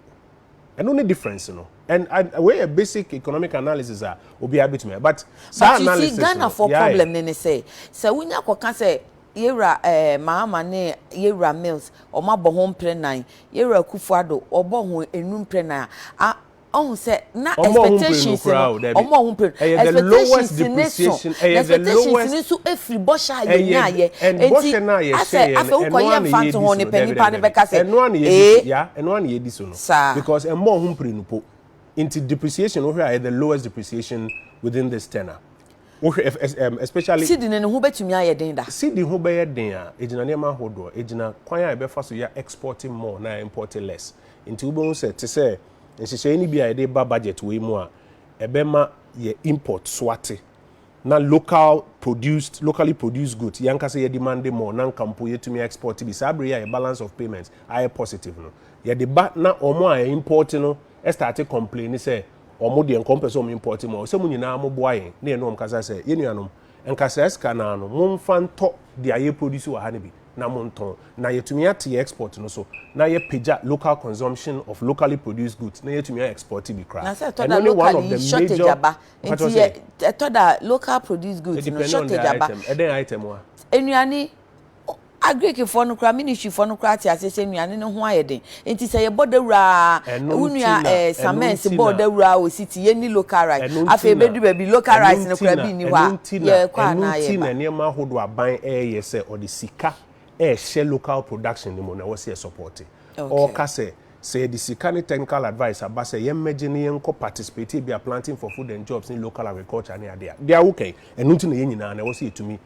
Ɛno ne difference no and wei yɛ basic economic analysis a obiara betumi ayɛ but saa analysis no. But you see Ghana foɔ problem no ne sɛ sɛ wonya kɔka sɛ Yɛwura eh, Mahama ne Yɛwura Mills wɔn abɔ ho mprɛ nan, Yɛwura Akufo Addo wɔbɔ ho nnum mprɛ nan a, ɔhu sɛ na expectations no, wɔn a wɔn pere no, expectations ne so, na expectations ne nso efiri bɔhyɛ a yɛ nya yɛ, eti asɛ afɛ wokɔ yɛ nfa nto ho ne pɛ nipa ne bɛka sɛ ee, saa. Because ɛmmɔ wɔn ho mpire no po, nti depreciation wohwɛ a ɛyɛ the lowest depreciation within this tenor. Wohwɛ ɛf ɛs ɛm especially. Sidi no ne ho bɛtumi ayɛ den da. Sidi ho bɛyɛ den a, ɛgyina nneɛma ahodoɔ, ɛgyina kwan a yɛbɛfa so yɛ export more na yɛ import less. Nti wobɛhu sɛ te sɛ nhyehyɛeɛ no bi a yɛde reba budget wei mu a, ɛbɛma yɛ import so ate na local produced, locally produced goods yɛn ankasa yɛ demande more na nka mpo yɛtumi a export bi. Saa berɛ yi a yɛ balance of payments ayɛ positive no, yɛde ba na wɔn a import no starte complaini sɛ wɔn deɛ nka wɔn pɛ sɛ wɔn import mu a ɔsɛ mo nyinaa mo boa yɛn ne yɛn ne wɔn kasa sɛ yɛn nuanom nka saa sika naa no mo nfa ntɔ deɛ yɛ produce wɔ ha no bi na mo ntɔn na yɛtumi ate yɛn export no so na yɛ pagya local consumption of locally produced goods na yɛtumi a export bi koraa ɛno ne one of the major mpatsɔ sɛ ɛtɔ da local produced goods no shortage aba ɛdɛn item wa. Nnuane. Agirikfoɔ no koraa, ministrifoɔ no koraa te aseɛ sɛ nnuane no ho ayɛ den. Nti sɛ yɛbɔ dawuro ara, Ɛno wo nti nua na, eh, ɛno Samens nti bɔɔ na. dawuro ara wɔ City, yɛnni local rice. Ɛno nti Afei na, ɛbɛdu baabi, local ɛno rice no nti koraa na, bi nni hɔ ɛno a, nti na, yɛkɔ ɛno anaa nti na yɛba. nneɛma ahodoɔ a aban reyɛ sɛ ɔde sika rehyɛ local production no mu no, ɛwɔ sɛ yɛsɔpɔɔte. Okay. Ɔreka sɛ, sɛ yɛde sika ne technical advice aba sɛ yɛmmɛgye na yɛnkɔ participate ebia planting for food and jobs ne local agriculture ne adeɛ a, deɛ a woka yi, ɛno nti na yɛn nyinaa no, ɛwɔ sɛ yɛtumi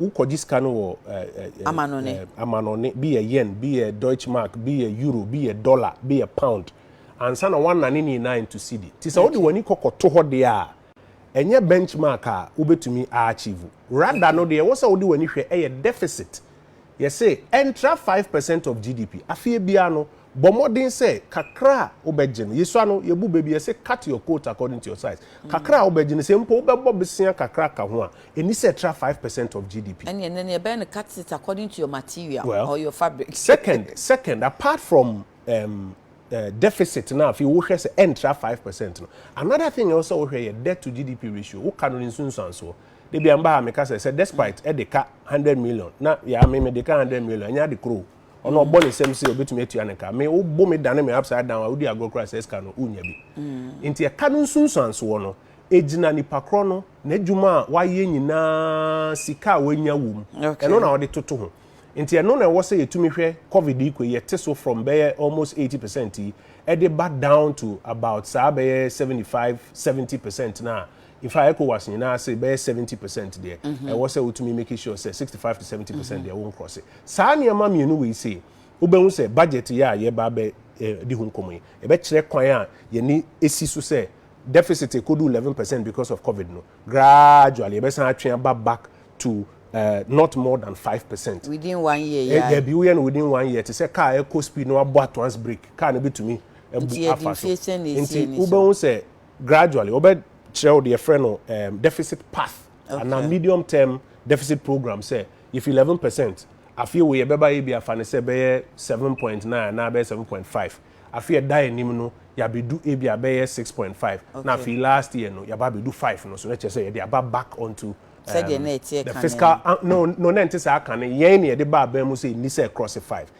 wokɔgye sika no wɔ amanɔne bi yɛ yen bi yɛ deutsche mark bi yɛ euro bi yɛ dollar bi yɛ pound ansa na woanane ne nyinaa into cedi nti sɛ wode w'ani kɔkɔto hɔ deɛ a ɛnyɛ benchmark a wobɛtumi aachieve rada no deɛ ɛwɔ sɛ wode w'ani hwɛ ɛyɛ deficit yɛse ɛntra 5 percent of gdp afeɛ biara no Bɔ mmɔden sɛ kakra a wobɛgye no, yesua no, yebu bɛ bi, yɛse cut your coat according to your size. Kakra a wobɛgye no, sɛ mpo wobɛbɔ bosea kakra aka ho a, enni sɛ ɛtra five percent of GDP. Ɛnneɛ nnɛ no yɛbɛyɛ no cut it according to your material Well, or your fabric. second, second, apart from um, uh, deficit no a afei wohwɛ sɛ ɛntra five percent no, another thing a ɛwɔ sɛ wohwɛ yɛ debt to GDP ratio. Woka no ne nsunsuansoɔ. Da bi a meba ha a meka sɛ, sɛ despite ɛde ka hundred million na yɛa me mede ka hundred million, ɛnyɛ ade korɔ o. ɔno ɔbɔ ne nsam sɛ ɔbɛtumi atua ne ka me wobo me dane me upside down a wodi agorɔ koraa sɛ sika no wonya bi mm. nti ɛka no nsunsuansoɔ no ɛgyina nipa korɔ no n'adwuma a wayɛ nyinaa sika a wanya wom ɛno na ɔde toto ho nti ɛno na ɛwɔ sɛ yɛtumi hwɛ covid yi kɔ yɛte so from bɛyɛ almost 80 percent yi ɛde ba down to about saa bɛyɛ 75 70 percent no a Infact Ecowas nyinaa ase bɛyɛ seventy percent deɛ ɛwɔ sɛ wotumi make sure sɛ sixty five to seventy percent deɛ wɔn krɔse. Saa nneɛma mmienu wei sei wobɛhu sɛ budget yɛ a yɛba abɛ eh, di ho nkɔmɔ yi ɛbɛkyerɛ kwan a yɛne esi so sɛ deficit ekodu eleven percent because of covid no gradually ɛbɛsan atwe aba back to uh, not more than five percent. within one year Eh, yɛ dabi woyɛ no within one year te sɛ car ɛkɔ speed na wabɔ atwans brake car no betumi abu Nti yɛde afa so mfie sɛn na nti esie ne so? wobɛhu sɛ gradually wɔbɛ kyerɛ wo deɛ frɛ no um, deficit path okay. ana medium term deficit program sɛ yɛfi 11 percent afei wo yɛbɛba yɛ bi afa no sɛ bɛyɛ 7.9 anaa bɛyɛ 7.5 afei ɛda anim no yɛabɛdu ebi a bɛyɛ 6.5 okay. na afei last year no yɛaba abɛdu 5 no so na kyerɛ sɛ yɛde aba back onto sɛdeɛ na ɛteɛ ka no fiscal ah, no no na ɛnte saa ka no yɛn na yɛde ba abɛn mu sɛ ɛni sɛ cross five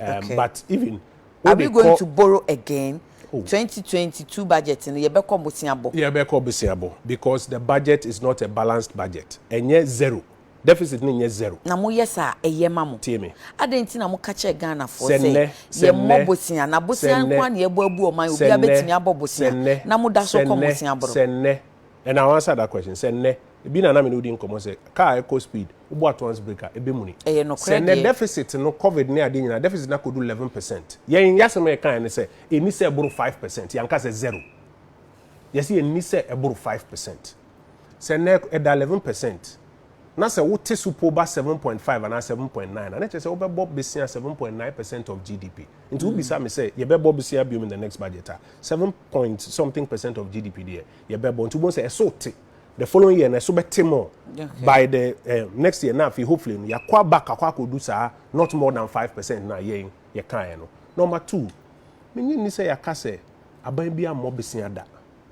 Okay. But even Are we going to borrow again? Oh. 2022 budget no yɛbɛkɔ boseabɔ. Yɛbɛkɔ boseabɔ because the budget is not a balanced budget. Ɛnyɛ zero. Deficit no nyɛ zero. Na mo yɛ saa ɛyɛ ma mo. Tie me. Adɛn nti na mo ka kyerɛ Ghana foɔ sɛ yɛ mmɔ bosea na bosea nko a na yɛbɔ abu ɔman obi abɛtumi abɔ bosea na mo da so kɔ boseabɔ. Sɛ nnɛ and I'll answer that question. Sɛ nnɛ Ebi na na me ne wo di nkɔmmɔ sɛ car a ɛkɔ speed, wobɔ ato ans brake a, ɛbɛmuni. Ɛyɛ nokorɛ deɛ. Sɛ nnɛ deficit no, covid ne adeɛ nyinaa, deficit no akɔdu 11 percent. Yɛn yɛasɛm a yɛkaeɛ ne sɛ ɛnni sɛ ɛboro 5 percent. Yɛanka sɛ zero. Yɛse ɛnni sɛ ɛboro 5 percent. Sɛ nnɛ ɛda 11 percent, na sɛ wote so po ba 7.5 anaa 7.9 a, na ɛkyerɛ sɛ wobɛbɔ besia 7.9 percent of GDP. Nti wobisa me sɛ yɛbɛbɔ besia biom in the next budget a, 7 point something percent of GDP deɛ, yɛbɛbɔ. Nti wobɛhu sɛ ɛso te. the following year na ɛso bɛte more okay. by the uh, next year na afei hopefully no yɛakɔ back akɔ akɔdu saa not more than five percent na yɛn yɛkaeɛ no number two menye nni sɛ yɛaka sɛ aban bi ammɔ besia da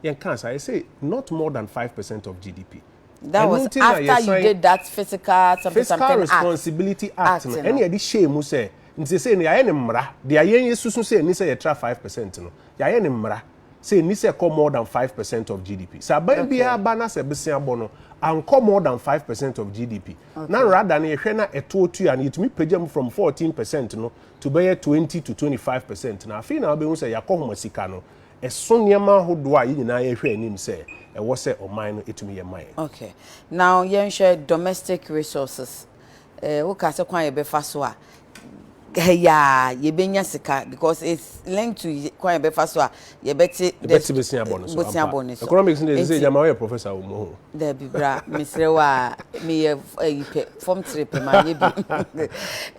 yɛnka saa yɛsɛ not more than five percent of gdp that was after you did that physical something fiscal something responsibility act, act no ɛne yɛde hyɛɛ mu sɛ nti sɛ no yɛayɛ ne mmara deɛ ayɛn yɛsusu sɛ ɛni sɛ yɛtra five percent no yɛayɛ ne mmara sɛ ɛnni sɛ ɛkɔ more than five percent of GDP. Sɛ aban biara ba na sɛ bosea bɔ no, ankɔ more than five percent of GDP. Na rather no yɛhwɛ na ɛtoɔ tua no, yɛtumi pagya mu from fourteen percent no to bɛyɛ twenty to twenty five percent no. Afei na wobɛhu sɛ yɛakɔhoma sika no ɛso nneɛma ahodoɔ a yɛn nyinaa yɛhwɛ anim sɛ ɛwɔ sɛ ɔman no ɛtumi yɛ ma yɛn. Okay. Now yɛnhwɛ domestic resources. Eh woka sɛ kwan a yɛbɛfa so a ha yi ara yɛbɛnya sika because it's linked to kwan a yɛbɛfa so a yɛbɛte Yɛbɛte bosia bɔ no so, bosia ampa. bɔ no so. Economics no deɛ ɛsɛ sɛ Nti- ɛgya ma woyɛ professor wɔ mu ho. Dabi bra mesrɛ wo a meyɛ f- ayi pɛ fam tire pɛ manyɛ bi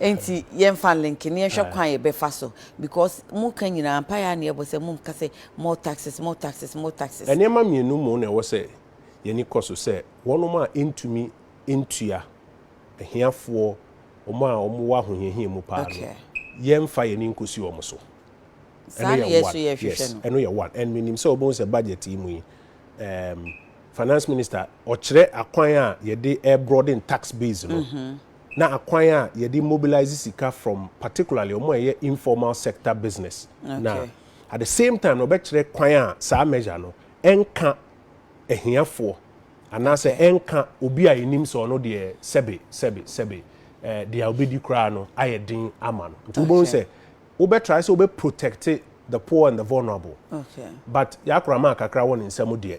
nti yɛmfa link ne yɛnhwɛ kwan a yɛbɛfa so because moka nyinaa mpaeɛ a ne yɛbɔ sɛ momka sɛ more taxes more taxes more taxes Nneɛma mmienu mu na ɛwɔ sɛ yɛn ani kɔ so sɛ wɔnom a ɛntumi ntua ahiafoɔ, wɔn a wɔn wɔ ahohiahia mu paa no, yɛn nfa yɛn ani nkosi wɔn so. Saa na yɛn nso yɛ hwehwɛ no. Yes, ɛno yɛ one. And me nim sɛ wɔbɛhu sɛ budget yi mu yi, um, finance minister, ɔkyerɛ akwan a yɛde air broaden tax base no, mm-hmm. na akwan a yɛde mobilize sika from particularly wɔn a ɛyɛ informal sector business. Okay. Na at the same time, ɔbɛkyerɛ kwan a saa measure no ɛnka ahiafoɔ. Anaasɛ ɛnka obi a yenim sɛ ɔno deɛ sɛbe, sɛbe, sɛbe, eh, deɛ a obedi koraa no ayɛ den ama no. Nti wobɛhu sɛ wobɛ try sɛ wobɛ protect the poor and the vulnerable. Okay. But Y'akora maa kakra wɔ ne nsam deɛ,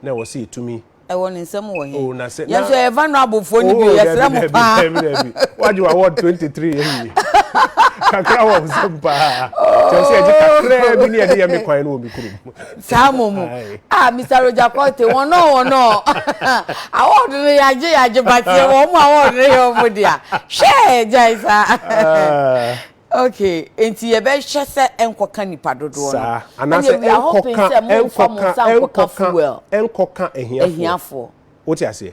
na ɛwɔ sɛ yɛtumi. Ɛwɔ ne nsam wɔ he? Oh, na sɛ, na. Yɛn nso yɛyɛ vulnerable foɔ no bi, yɛsrɛ mo paa. Oh, dabi, dabi, dabi, dabi. Wagye wɔ award 23 awie. Kakra wɔ wo nsam paa. Kyerɛ sɛ yɛgye kakraa bi ne yɛde yɛ me kwan no wɔ me kurom. saa mo mu ah mr roger conte wɔn nɔ wɔn nɔ award no yagye yagye bateɛ wɔn mu award no yɛ wɔn dea hwɛ gyae saa ah. okay nti yɛbɛhwɛ sɛ ɛnkɔka nipa dodoɔ no anaasɛ ɛnkɔka ɛnkɔka ɛnkɔka ɛnkɔka ahiafoɔ wote aseɛ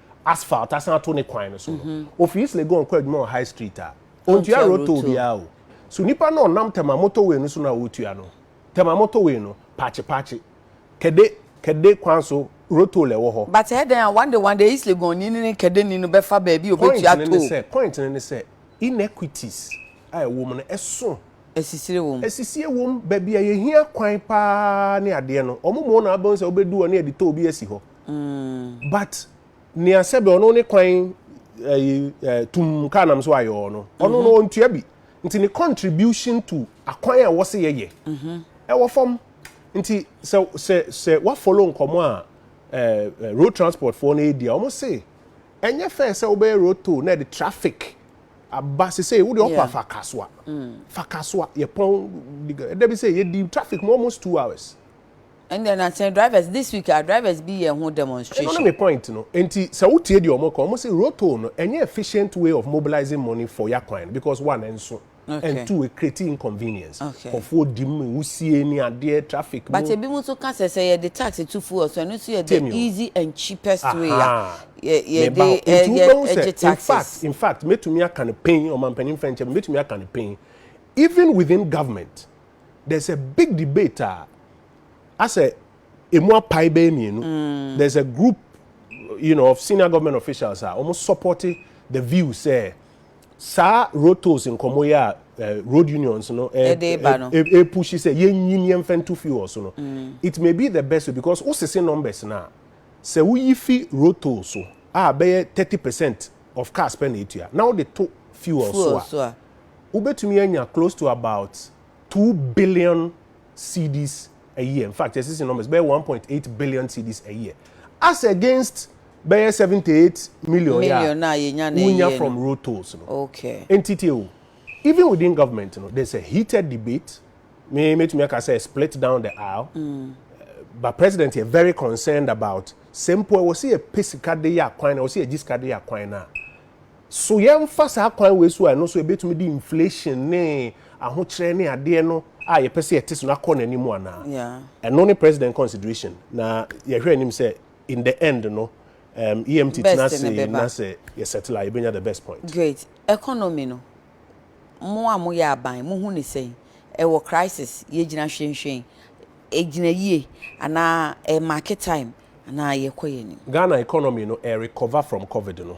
asphalt asan ato ne kwan no so no mhm. ofi east legon kɔ adwuma wɔ high street a ontua road toll biara o so nipa no ɔnam tɛma motorway no so na ɔretua no tɛma motorway no paakye paakye kɛde kɛde kwan so road toll ɛwɔ hɔ. but ɛdɛn eh, a one day one day east legon ni ne kɛde ni no bɛfa baabi obetua toll. point ne ne sɛ point ne ne sɛ inequities a ɛwɔ mu no ɛso. esisire wɔm. esisire wɔm baabi a yɛhia kwan paa ne adeɛ no wɔn mu na abɛn sɛ wɔbɛdu hɔ ne yɛde toll bi asi hɔ. but nea sɛbi ɔno ne kwan ɛyi eh, eh, tum kaa nam so ayɛ ɔno ɔno no mhm. ɔntua bi nti ne contribution to akwan a wɔsi yɛyɛ mhm. ɛwɔ fam nti sɛ sɛ sɛ wafolo nkɔmɔ a ɛɛ eh, road transport foɔ no edi a wɔn se ɛnyɛ fɛn sɛ wobɛyɛ road toll na ɛde traffic aba sese wode ɔkɔ afa kasoa mm. fa kasoa yɛpɔn ɛdɛ bi sɛ yɛdi traffic mu almost two hours. Ɛndeɛ na sɛ drivers this week a drivers bi yɛ ho demonstration. Ɛno ne me point no nti sɛ wo tie deɛ wɔn ka wɔn se rotoll no ɛnyɛ efficient way of mobilizing money for ya kwan no because one ɛnso and two ecreate inconvenience nkorɔfoɔ di mu wusie ne adeɛ traffic mu. But ebi mo nso ka sɛ sɛ yɛde tax to fuel so ɛno nso yɛ the easy and cheapest way a yɛde ɛgye taxes. In fact in fact mɛtumi aka no pɛn ɔmanpanin fɛnkyɛ mɛtumi aka no pɛn even within government. there's a big debate a asɛ emu apae bɛyɛ mmienu mm. there's a group you know of senior government officials a wɔn support the view sɛ saa road tolls nkɔmɔ yi a eh, road unions no ɛpushi sɛ yɛnyi ni ɛnfɛ ntu fi wɔ so no mm. it may be the best way because wosese numbers na sɛ woyi fi road tolls so a bɛyɛ thirty percent of cars pɛ na etua na wode to fuel so a. wobɛtumi anya close to about two billion cedis a year, in fact yɛsi si numbers bɛyɛ one point eight billion cedis a year as against bɛyɛ seventy eight million yɛ Million a yɛnya na wonya ɛyɛ from no. road tolls no. Okay. Nti tie o, even within government no there's a heated debate, me mɛtumi aka sɛ split down the aisle, but president yɛ very concerned about sɛ mpo ɛwɔ sɛ yɛpɛ sika de yɛ akwan no, ɛwɔ sɛ yɛgye sika de yɛ akwan no a, So yɛmfa saa kwan wei so a ɛno nso ɛbɛtumi de inflation ne ahokyerɛ ne adeɛ no a yɛpɛ sɛ yɛte so no akɔ n'anim anaa? Ɛno ne President consideration na yɛhwɛ anim sɛ in the end no EMT tena ase na sɛ yɛ settle a yɛbɛnya the best point. Great. Economy no, mo a moyɛ aban, mohu no sɛn? Ɛwɔ crisis? Yɛgyina hwenhwen? Ɛgyina yie? Anaa ɛremake time? Anaa yɛkɔ yɛn anim? Ghana economy no ɛrecover from covid no.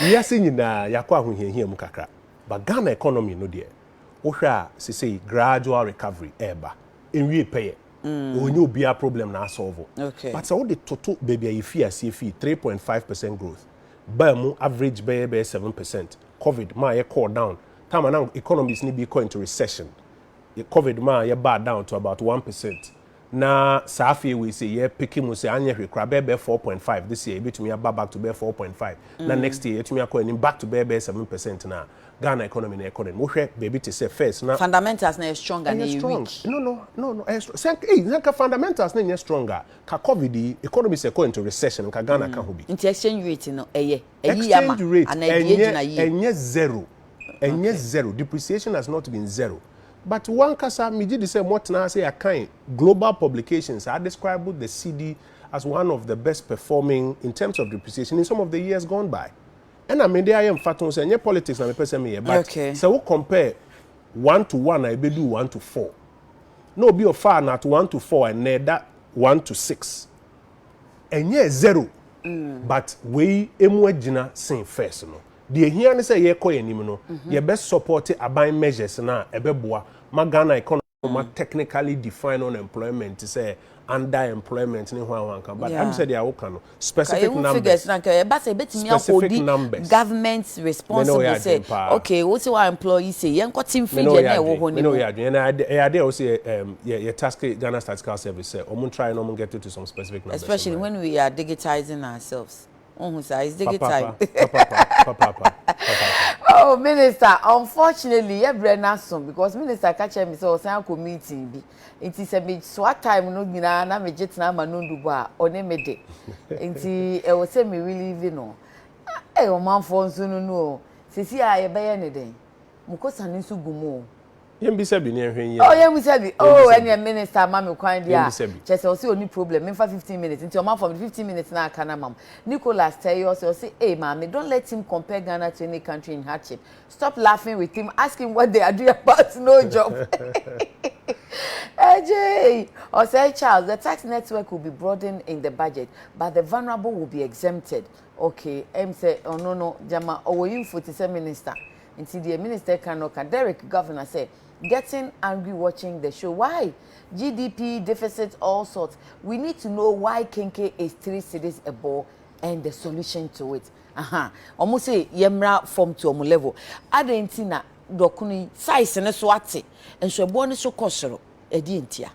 Wiase nyinaa yɛakɔ ahohiahia mu kakra but Ghana economy no deɛ wohwɛ a sesei gradual recovery ɛɛba. Ɛnwiee pɛyɛ. Ɔnyɛ obiara problem na asɔlvo but sɛ wode toto baabi a yɛfii aseɛ fii three point five percent growth baa mu average bɛyɛ bɛyɛ seven percent covid maa yɛkɔɔ down time a na economies no bi rekɔ into recession covid maa yɛbaa down to about one percent. Na saa afeɛ wei sei yɛ peke mu sɛ anyɛ hwee koraa bɛyɛ bɛyɛ four point five this year yɛbɛtumi aba back to bɛyɛ four point five na next year yɛatumi akɔ anim back to bɛyɛ bɛyɛ seven percent no a Ghana economy no ɛkɔ n'anim wohwɛ baabi te sɛ first na Fundamentals no ɛyɛ strong anaa ɛyɛ ɛyɛ strong weak? no no no no ɛyɛ strong sɛ nka ei sɛ nka fundamentals no nyɛ strong a ka covid yi economy sɛ ɛkɔ into recession nka Ghana ka ho bi. Nti exchange rate no ɛyɛ ayi yɛ ama Exchange rate anaa ɛdeɛ ɛnyɛ gyina yie? ɛnyɛ zero ɛnyɛ zero depreciation has not been zero but wankasa megye di sɛ mɔtena ase yɛakan global publications a describe the cd as one of the best performing in terms of depreciation in some of the years gone by ɛna mede ayɛ mfato sɛ ɛnyɛ politics na mepɛ sɛ meyɛ but sɛ wo compare one to one a ɛbɛdu one to four na obi ɔfaa no at one to four ɛnna ɛda one to six ɛnyɛ zero mm. but wei emu agyina sen first no Deɛ ɛhia ne sɛ yɛkɔ yɛn anim no, yɛbɛ support aban measures no a ɛbɛboa ma Ghana economy ma technically define unemployment sɛ under employment ne hwan hwan ka. But ɛm sɛ deɛ woka no, specific numbers. Ka yɛhu figures no anka ɛba sɛ ɛbɛtumi ahodi government responsible sɛ okay wo sɛ wa employ yi sɛ yɛnkɔ te mfidie na ɛwɔ hɔ ne mu. Ɛyɛ adeɛ a wo sɛ yɛ task Ghana Statistical Service sɛ wɔn try na wɔn get to some specific numbers. Especially when we are digitizing ourselves. wohu saa it's digi time oh minister unfortunately yɛ brɛ no aso because minister ka kyerɛ me sɛ ɔsan akɔ meeting bi nti sɛ mesoa time no nyinaa na megye tena ama no ndubɔ a ɔne me de nti ɛwɔ sɛ me relieve no ɛyɛ ɔmanfoɔ nso no no o sɛsi a yɛbɛyɛ ne dɛn mokɔsane nso gu mu o yɛn bisa bi ne yɛn hwɛ nyɛ. ɔ yɛn bisa bi oo ɛnìyɛn minister ama mi kwan di a kyɛ sɛ ɔsi oni problem nfa fifteen minutes nti ɔma fam fifteen minutes na aka na mam Nicholas tɛyi ɔsi ɔsi ee maame don't let him compare Ghana to any country in hardship stop laughing with him ask him what they are doing about no job ɛgye ɔsɛ Charles the tax network will be broadened in the budget but the vulnerable will be exempted okay ɛm sɛ ɔno no gyama ɔwɔ info ti sɛ minister. Nti deɛ minister ka no ka Derrick governor sɛ getting angry watching the show why GDP deficit all sort we need to know why kenke is three cedis a ball and the solution to it ahaa ɔmo se yɛmmra fam to ɔmo level adɛn nti na dɔkono yi size ne so ate nso ɛboɔ ne so kɔ soro ɛdeɛ ntia.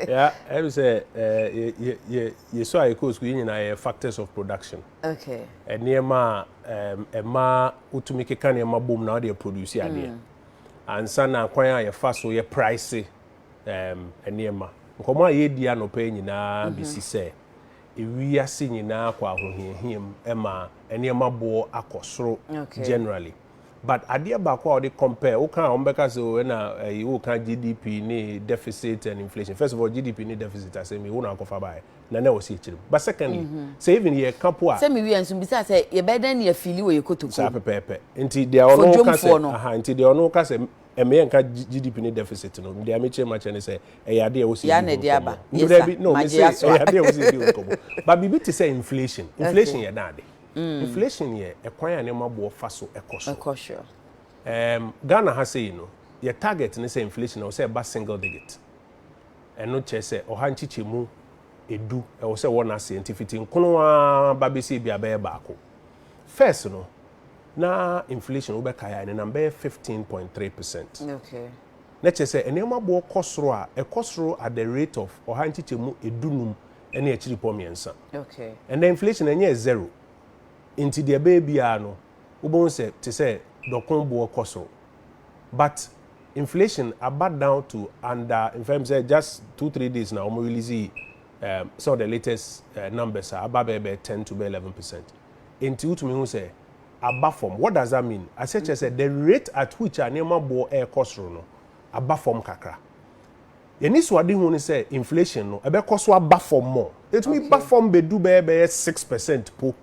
ya ɛbi sɛ yɛ yɛ yɛ so a yɛ kɔ sukuu yɛ nyinaa yɛ factors of production. okay. nneɛma a um, ɛma wotumi keka nneɛma bom na wode aproduce adeɛ mm. ansa na kwan a yɛfa so yɛ price um, nneɛma nkɔmmɔ a yɛdi anɔpɛ nyinaa mhm. bɛsi sɛ ewiase nyinaa kɔ ahohiahia mu ɛma nneɛma boɔ akɔ soro generally but adeɛ baako a wɔde compare woka a wɔbɛka sɛ oh, na ɛyi eh, woka gdp ne deficit and inflation first of all gdp ne deficit asɛm yi wo na akɔfa baeɛ na na ɔsi akyire mu but secondly sɛ even yɛ ka po a. sɛ mi wi nso bisa sɛ yɛ bɛ dɛn ni yɛ fili wɔ yɛ kotokuo. saa pɛpɛɛpɛ nti deɛ ɔno ka sɛ aha nti deɛ ɔno ka sɛ ɛmɛ yɛn ka GDP ne deficit no deɛ ɛmɛ kyerɛ ma kyerɛ ne sɛ ɛyɛ adeɛ ɛwɔ si ebi ho nkɔmɔ ndebɛ bi no mi sɛ ɛyɛ adeɛ ɛwɔ si ebi ho nkɔmɔ ba biribi te sɛ inflation inflation yɛ dan ade mm. inflation yɛ ɛkwan a nneɛma boɔ fa so ɛkɔ so ɛkɔ so ɛɛm Ghana ha sɛ yi no yɛ target ne sɛ inflation na ɔsɛ ɛba single digit. Ɛno kyerɛ sɛ ɔha nkyekyɛmu edu ɛwɔ sɛ wɔ n'aseɛ nti fiti nkono ara ba bɛsi ebi a bɛyɛ baako. First no na inflation wobɛkae a ɛnenam bɛyɛ fifteen point three percent. Na kyerɛ sɛ nneɛma boɔ kɔ soro a ɛkɔ soro at the rate of ɔha nkyekyɛmu edu num ɛne akyiripɔ mmiɛnsa. Ɛnɛ inflation ɛnyɛɛ zero nti deɛ ɛbɛyɛ biara no wobɛhu sɛ te sɛ dɔko boɔ kɔ soro. but inflation aba down to under nfa mu sɛ just two three days na wɔn release um, some of the latest uh, numbers a aba bɛyɛ bɛyɛ ten to bɛyɛ eleven percent nti wotumi hu sɛ aba fam what does that mean asɛ kyerɛ sɛ the rate at which a nneɛma boɔ ɛrekɔ soro no aba fam kakra yɛne suadehu no sɛ inflation no ɛbɛkɔ so aba fam mɔ ɛtumi ba fam bɛdu bɛyɛ bɛyɛ six percent po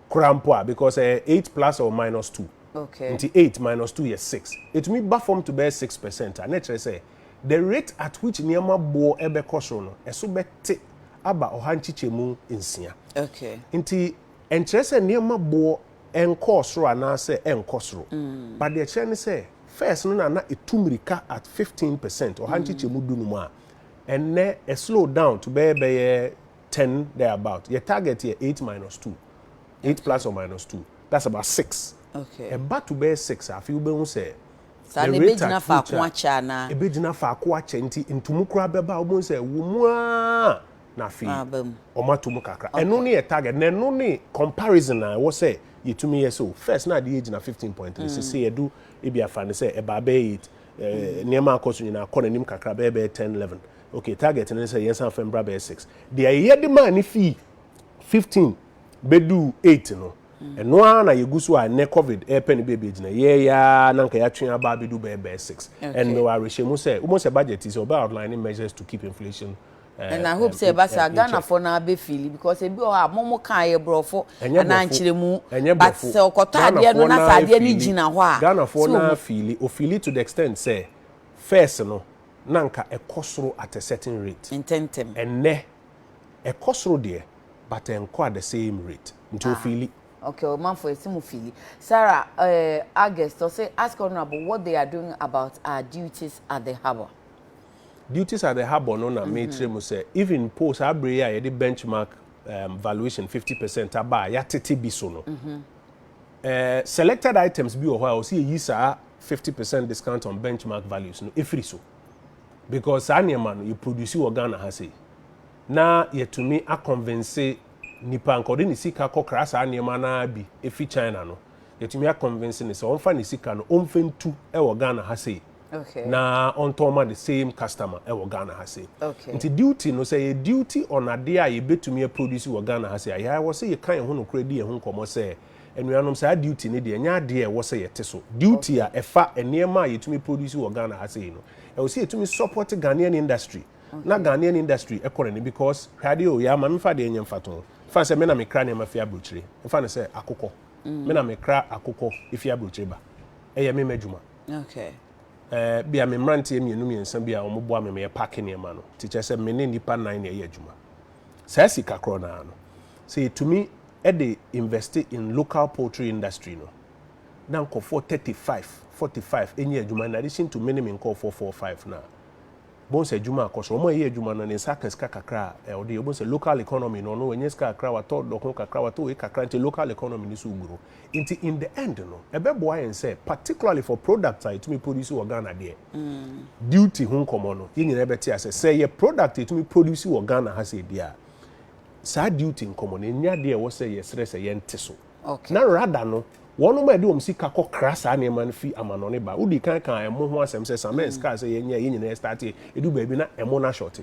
koraa mpo a because ɛyɛ eh, eight plus or minus two okay. nti eight minus two yɛ six ɛtumi ba fam to bɛyɛ six percent a na ɛkyerɛ sɛ the rate at which nneɛma boɔ ɛbɛkɔ soro no ɛso bɛte aba ɔha nkyekyɛmu nsia okay. nti ɛnkyerɛ sɛ nneɛma boɔ ɛnkɔɔ soro anaasɛ ɛnkɔ soro mm. but deɛ ɛkyerɛ ne sɛ first no na na ɛtu mmirika at fifteen percent ɔha mm. nkyekyɛmu dunum a ɛnɛ ɛ slow down to bɛyɛ bɛyɛ ten there about yɛ target yɛ eight minus two eight okay. plus or minus two that's about six okay. ɛba to bɛyɛ six a afei wobɛhu sɛ saa na ebegyina faako akyɛ anaa ebegyina faako akyɛ nti ntumu koraa bɛba wɔn sɛ wɔn mu aa na afei wɔn ato mu kakra ɛno ne yɛ target na ɛno ne comparison a ɛwɔ sɛ yɛtumi yɛ so first na adeɛ gyina fifteen point three mm. sese yɛdu ebi afa ne sɛ ɛbaa bɛyɛ eight eh, mm. nneɛma akɔ so nyinaa akɔ n'anim kakra bɛyɛ bɛyɛ ten eleven Okay, target no ne sɛ yɛnsan fam bra bɛyɛ six. Deɛ yɛyɛ de maa ne fii fifteen bɛduu eight no, mm. ɛno ara na yɛgu so a ɛnɛ covid ɛrepɛ no baabi agyina yɛyɛa na nka yɛatwe aba abɛdu bɛyɛ bɛyɛ six. And mewɔ awerɛhyɛ mu sɛ wobɛhu sɛ budget sɛ ɔbɛ outline measures to keep inflation Eh, and i hope eh, sɛ ɛba saa ghanafoɔ no abɛfili because ebi wɔ hɔ a momo kaa yɛ borɔfo anaa nkyerɛmu but sɛ ɔkɔtɔ adeɛ no na sɛ adeɛ no gyina hɔ a ghanafoɔ no afili ofili to the extent sɛ first no na anka ɛkɔ soro at a certain rate. Ntɛntɛm. Ɛnnɛ, ɛkɔ soro deɛ but ɛnkɔ at the same rate. Nti Ah. ofeeli. Okay, ɔmanfoɔ yɛse mo feeli. Sarah eh, August, ɔse ask honourable what they are doing about our duties at the harbour. Duties at the harbour no na meekyerɛ mu sɛ even mpo saa berɛ yi a yɛde benchmark um, valuation fifty percent aba a yɛatete bi so no, Eh, selected items bi wɔ hɔ a ɔsɛ yɛyi saa 50 percent discount on benchmark values no ɛfiri so because saa nneɛma no yɛproduce wɔ Ghana ha sei na yɛtumi akɔnvense nipa nka ɔde ne sika kɔkra saa nneɛma no ara bi ɛfiri China no yɛtumi akɔnvense ne sɛ ɔmfa ne sika no ɔmfɛntu wɔ Ghana ha sei Okay. Na ɔntɔn ma the same customer ɛwɔ Ghana ha se. Okay. Nti duty no sɛ yɛ duty on adeɛ a yɛbɛtumi aproduce wɔ Ghana ha se a yɛawɔ sɛ yɛka yɛn ho nokorɛ di yɛn ho nkɔmmɔ sɛ anuanom saa duty no deɛ ɛnyɛ adeɛ a ɛwɔ sɛ yɛte so. Duty a ɛfa nneɛma a yɛtumi produce wɔ Ghana ha sei no ɛwɔ sɛ yɛtumi support Ghanaian industry na Ghanaian industry ɛkɔ n'ani because hwɛ adeɛ o yɛama memfa adeɛ nyɛ mfatoho fa sɛ me na mekra nneɛma fi aburokyire mfa no sɛ akokɔ mm. me na mekra akokɔ fi aburokyire ba ɛyɛ me m'adwuma Okay. Ebia me mmeranteɛ mmienu mmiɛnsa bi a wɔboa me ma yɛpake nneɛma no nti, kyerɛ sɛ me ne nnipa nnan na yɛyɛ adwuma. Saa sika korɔ no ara no, sɛ yɛtumi de invest in local poultry industry no, na nkurɔfoɔ thirty five, forty five nya adwuma in addition to me ne me nkurɔfoɔ four, five no a, bohu sɛ adwuma akɔ so. Wɔn a ɛyɛ adwuma no, ne nsa aka sika kakra a ɛ, ɔde yɛ. Wobɛhu sɛ local economy no, ɔno wanya sika kakra, watɔ dɔko kakra, watɔ wei kakra, nti local economy no so gu no. Nti in the end no, ɛbɛboa yɛn sɛ, particularly for products a yɛtumi produce wɔ Ghana deɛ, duty ho nkɔmmɔ no, yɛn nyinaa bɛte aseɛ. Sɛ ɛyɛ product a yɛtumi produce wɔ Ghana ha sei deɛ a, saa duty nkɔmmɔ no, ɛnyɛ adeɛ a ɛwɔ sɛ yɛsrɛ sɛ yɛnte so. Na rada no, wɔnom a yɛde wɔn sika kɔ kra saa nneɛma no fi amanɔne ba. Wodii kan kaa ɛmo ho asɛm sɛ Samens kaa sɛ yɛnyɛ a yɛn nyinaa ɛstarte a, ɛdu baabi na ɛmo no ashɔte.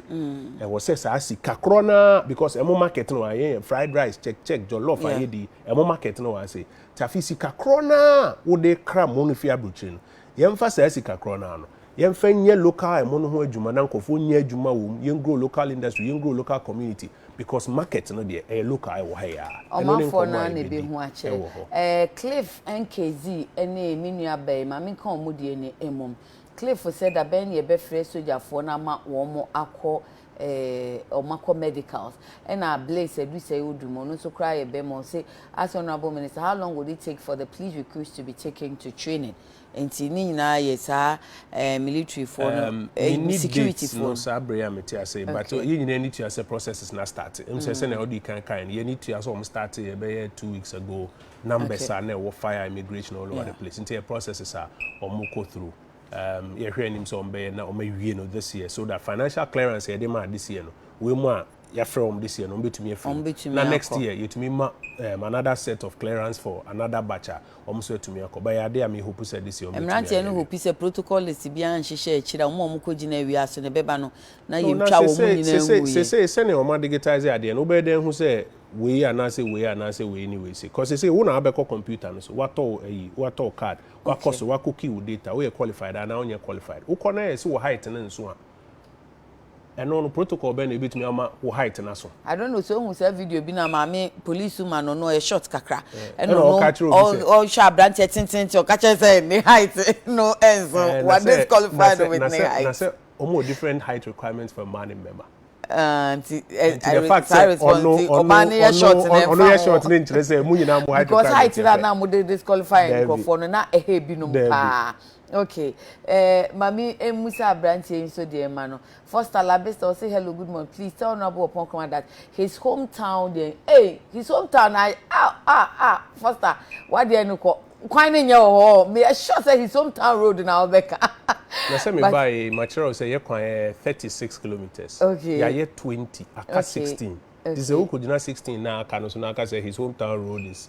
Ɛwɔ sɛ saa sika korɔ no ara, because ɛmo market no wɔ ha, yɛn yɛ fried rice, check check, jollof, ayɛdi, ɛmo market no wɔ ha sei. Nti afei sika korɔ no ara a wode kra mo no fi abrokyire no, yɛmfa saa sika korɔ no ara no, yɛmfa nyɛ local ɛmo no ho adwuma na nkorɔfoɔ nyɛ adwuma wɔ mu, yɛn grow local industry, yɛn grow local community. Because market no deɛ ɛyɛ local ɛwɔ ha yi aa. Ɛno ne Ɔmanfoɔ no nkɔmmɔ a ara na yɛbɛdi ɛbɛhu akyerɛ. ɛwɔ hɔ. Ɛɛ Cliff NKZ ne me nua bɛn, ma menka wɔn deɛ ni mmom. Cliff sɛ da bɛn na yɛbɛfrɛ sogyafoɔ no ama wɔn akɔ ɛɛ wɔn akɔ medicals. Ɛna Blaze Adusɛe Odum, ɔno nso koraa yɛ bɛma, ɔse, Ask Honourable Minister, how long would it take for the police recruits to be taken to training? Nti ne nyinaa yɛ saa eh, military foɔ no, Um, eh, menni security dates foɔ no no. saa bere a mete ase yi, but Okay. yɛn nyinaa ani tua sɛ processes no astarte. Ɛmu sɛ sɛnea wode kan kae no, yɛn ani tua sɛ wɔn starte yɛ bɛyɛ two weeks ago, numbers Okay. a na ɛwɔ fire immigration all over the Yeah. place. Nti ɛyɛ processes a wɔn kɔ through. Um, yɛhwɛ anim sɛ wɔn bɛyɛ na wɔn awie no this year so that financial clearance a yɛde maa this year no, wei mu a yɛafrɛ wɔn this year no wɔbɛtumi afiri mu Wɔbɛtumi na next akɔ. year yɛtumi ma um, another set of clearance for another batch a wɔn nso atumi akɔ but ɛyɛ adeɛ a me hope sɛ this year wɔbɛtumi Mmeranteɛ ayɛ no awie. hopi sɛ protocol list biara nhyehyɛ akyiri a wɔn a wɔkɔgyina awia so no ɛbɛba no na No, na yɛntwa wɔn sesei nyinaa sesei nguiɛ. sesei sɛnea wɔn adigitize adeɛ no wobɛyɛ dɛn ahu sɛ wei anaasɛ wei anaasɛ wei ne wei sei cause sesei wo na wabɛkɔ computer no so watɔ wo ayi watɔ wo card wakɔ Okay. so wakɔ key wo data woyɛ qualified anaa wonyɛ qualified wokɔ na yɛ sɛ wo height no nso a Ɛno no protocol bɛn na ebetumi ama wo height no aso? I don't know sɛ ohun saa video bi na maame police ma no no ɔyɛ short kakra ɛna ɔno ɔka kyerɛ obi sɛ ɔhwɛ aberanteɛ tententen ɔka kyerɛ sɛ ne height no ɛnso wa disqualified with ne height. na sɛ wɔn wɔ different height requirements for mmaa ne mmarima. nti the fact sɛ ɔno ɔno ɔno yɛ short ne nkyerɛ sɛ mu nyinaa mu height requirements. because height na na mo de disqualify nkurɔfoɔ no na ɛhɛ ebinom paa. Okay eh, ma me mmusa abranteɛ yi nso deɛ ma no. Foster Labista ɔse hello good morning please tell Honourable Opon Kroma that his hometown deɛ hey his hometown na ah ah ah Foster wadeɛ no kɔ kwan ne nyɛ wɔ hɔ oh, me sure sɛ his hometown road na ɔbɛka. Na sɛ me bae ma kyerɛw sɛ yɛ kwan yɛ thirty six kilometres okay. yɛayɛ twenty aka okay. sixteen okay. te sɛ wokɔgyina sixteen na aka no so na aka sɛ his hometown road is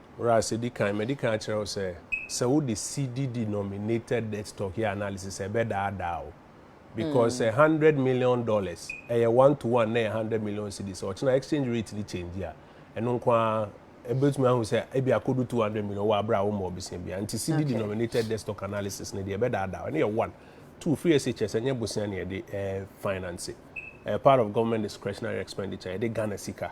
Whereas edi kan, madi kan akyerɛ wo sɛ, sɛ wode CD-denominated debt stock yɛ analysis a, ɛbɛdaadaa wo. Because sɛ hundred million dollars, ɛyɛ one to one na ɛyɛ hundred million cedis a, ɔkyena exchange rate no change a, ɛno nko ara ɛbɛtumi ahu sɛ ebi akɔdu two hundred million wɔ abere a womma ɔbosea biara. Nti CD-denominated debt stock analysis no deɛ, ɛbɛdaadaa wo. Ɛno yɛ one. Two, free SHS ɛnyɛ bosea na yɛde ɛɛ finance. Ɛyɛ part of government discretionary expenditure, yɛde Ghana sika.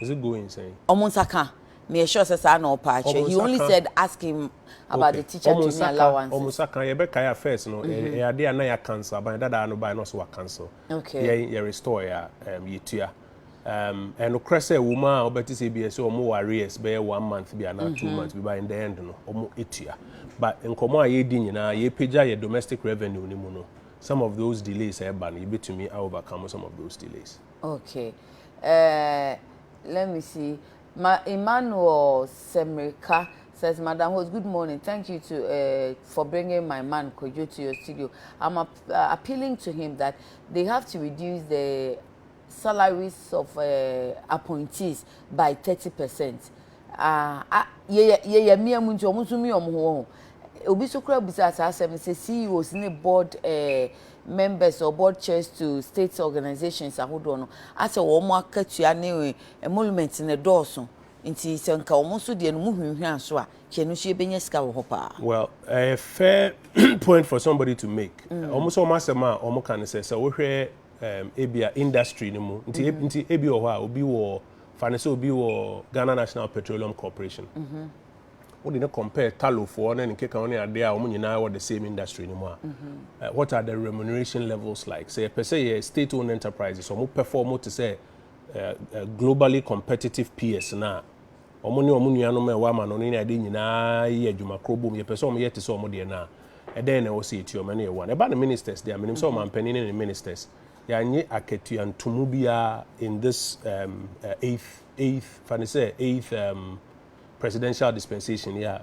is it going sɛn. Ɔmo nsa ka, me yɛ sure sɛ saa na ɔpɛ akyerɛ, he only said ask him about the teacher to ne allowances. Ɔmo nsa ka, yɛbɛ kae a first no ɛyɛ adeɛ a na yɛ cancel, aban dadaa no bae na ɔse wa cancel, yɛn yɛ restore a yɛ tua. Ɛnokorɛ sɛ ɛwom a ɔbɛ te sɛ ebi ɛsɛ ɔmo wɔ arrears bɛyɛ one month bi anaa two months bi but in the end no ɔmo tua. But nkɔmɔ a yɛredi nyinaa yɛ pagya yɛ domestic revenue no mu no some of those delays a ɛba no yɛbɛtumi a overcome some of those delays. Ok eh let me see ma Emmanuel Semirka says madam host good morning thank you to eh for bringing my man Kojo to your studio I'm ap uh, appealing to him that they have to reduce the salaries of eh appointees by thirty percent ah ah yɛyɛ yɛyɛ mmea mu nti wɔn nso mmea wɔn ho wɔn ho obi so kora bisa saa asɛm no sɛ CEOs ne board eh members of board chairs to state organisations ahodoɔ no asɛ wɔn akatua ne emolument no dɔɔso nti sɛ nka wɔn nso deɛ no mu hwinhwina so a kyɛ ɛno nso yɛbɛnya sika wɔ hɔ paa. Well, ɛyɛ fair point for somebody to make. Mm. Wɔn nso wɔn asɛm a wɔn ka no sɛ sɛ wohwɛ um, ebia industry no mu nti, mm. nti ebi wɔ hɔ a obi wɔ fa no sɛ obi wɔ Ghana National Petroleum Corporation. Mm -hmm. wo de no compare talo foɔ ne ne keka ne adeɛ a wɔn nyinaa wɔ the same industry no mu a eh, what are the remuneration levels like sɛ yɛpɛ sɛ yɛ state owned enterprises wɔn pɛfɔ wɔn te sɛ eh, eh, globally competitive peers na wɔn ne wɔn nuanom a ɛwɔ ama no ne adeɛ nyinaa yɛ adwuma koro bom yɛpɛ sɛ wɔn yɛ te sɛ wɔn deɛ no a ɛdɛn na ɛwɔ sɛ yɛtua wɔn ne yɛ wɔn ɛba ne ministers deɛ menim sɛ wɔn ampanin ne ne ministers yɛanye akatua ntomu biara in this um, uh, eighth eighth fa ne sɛ eighth um, presidential dispensation yi a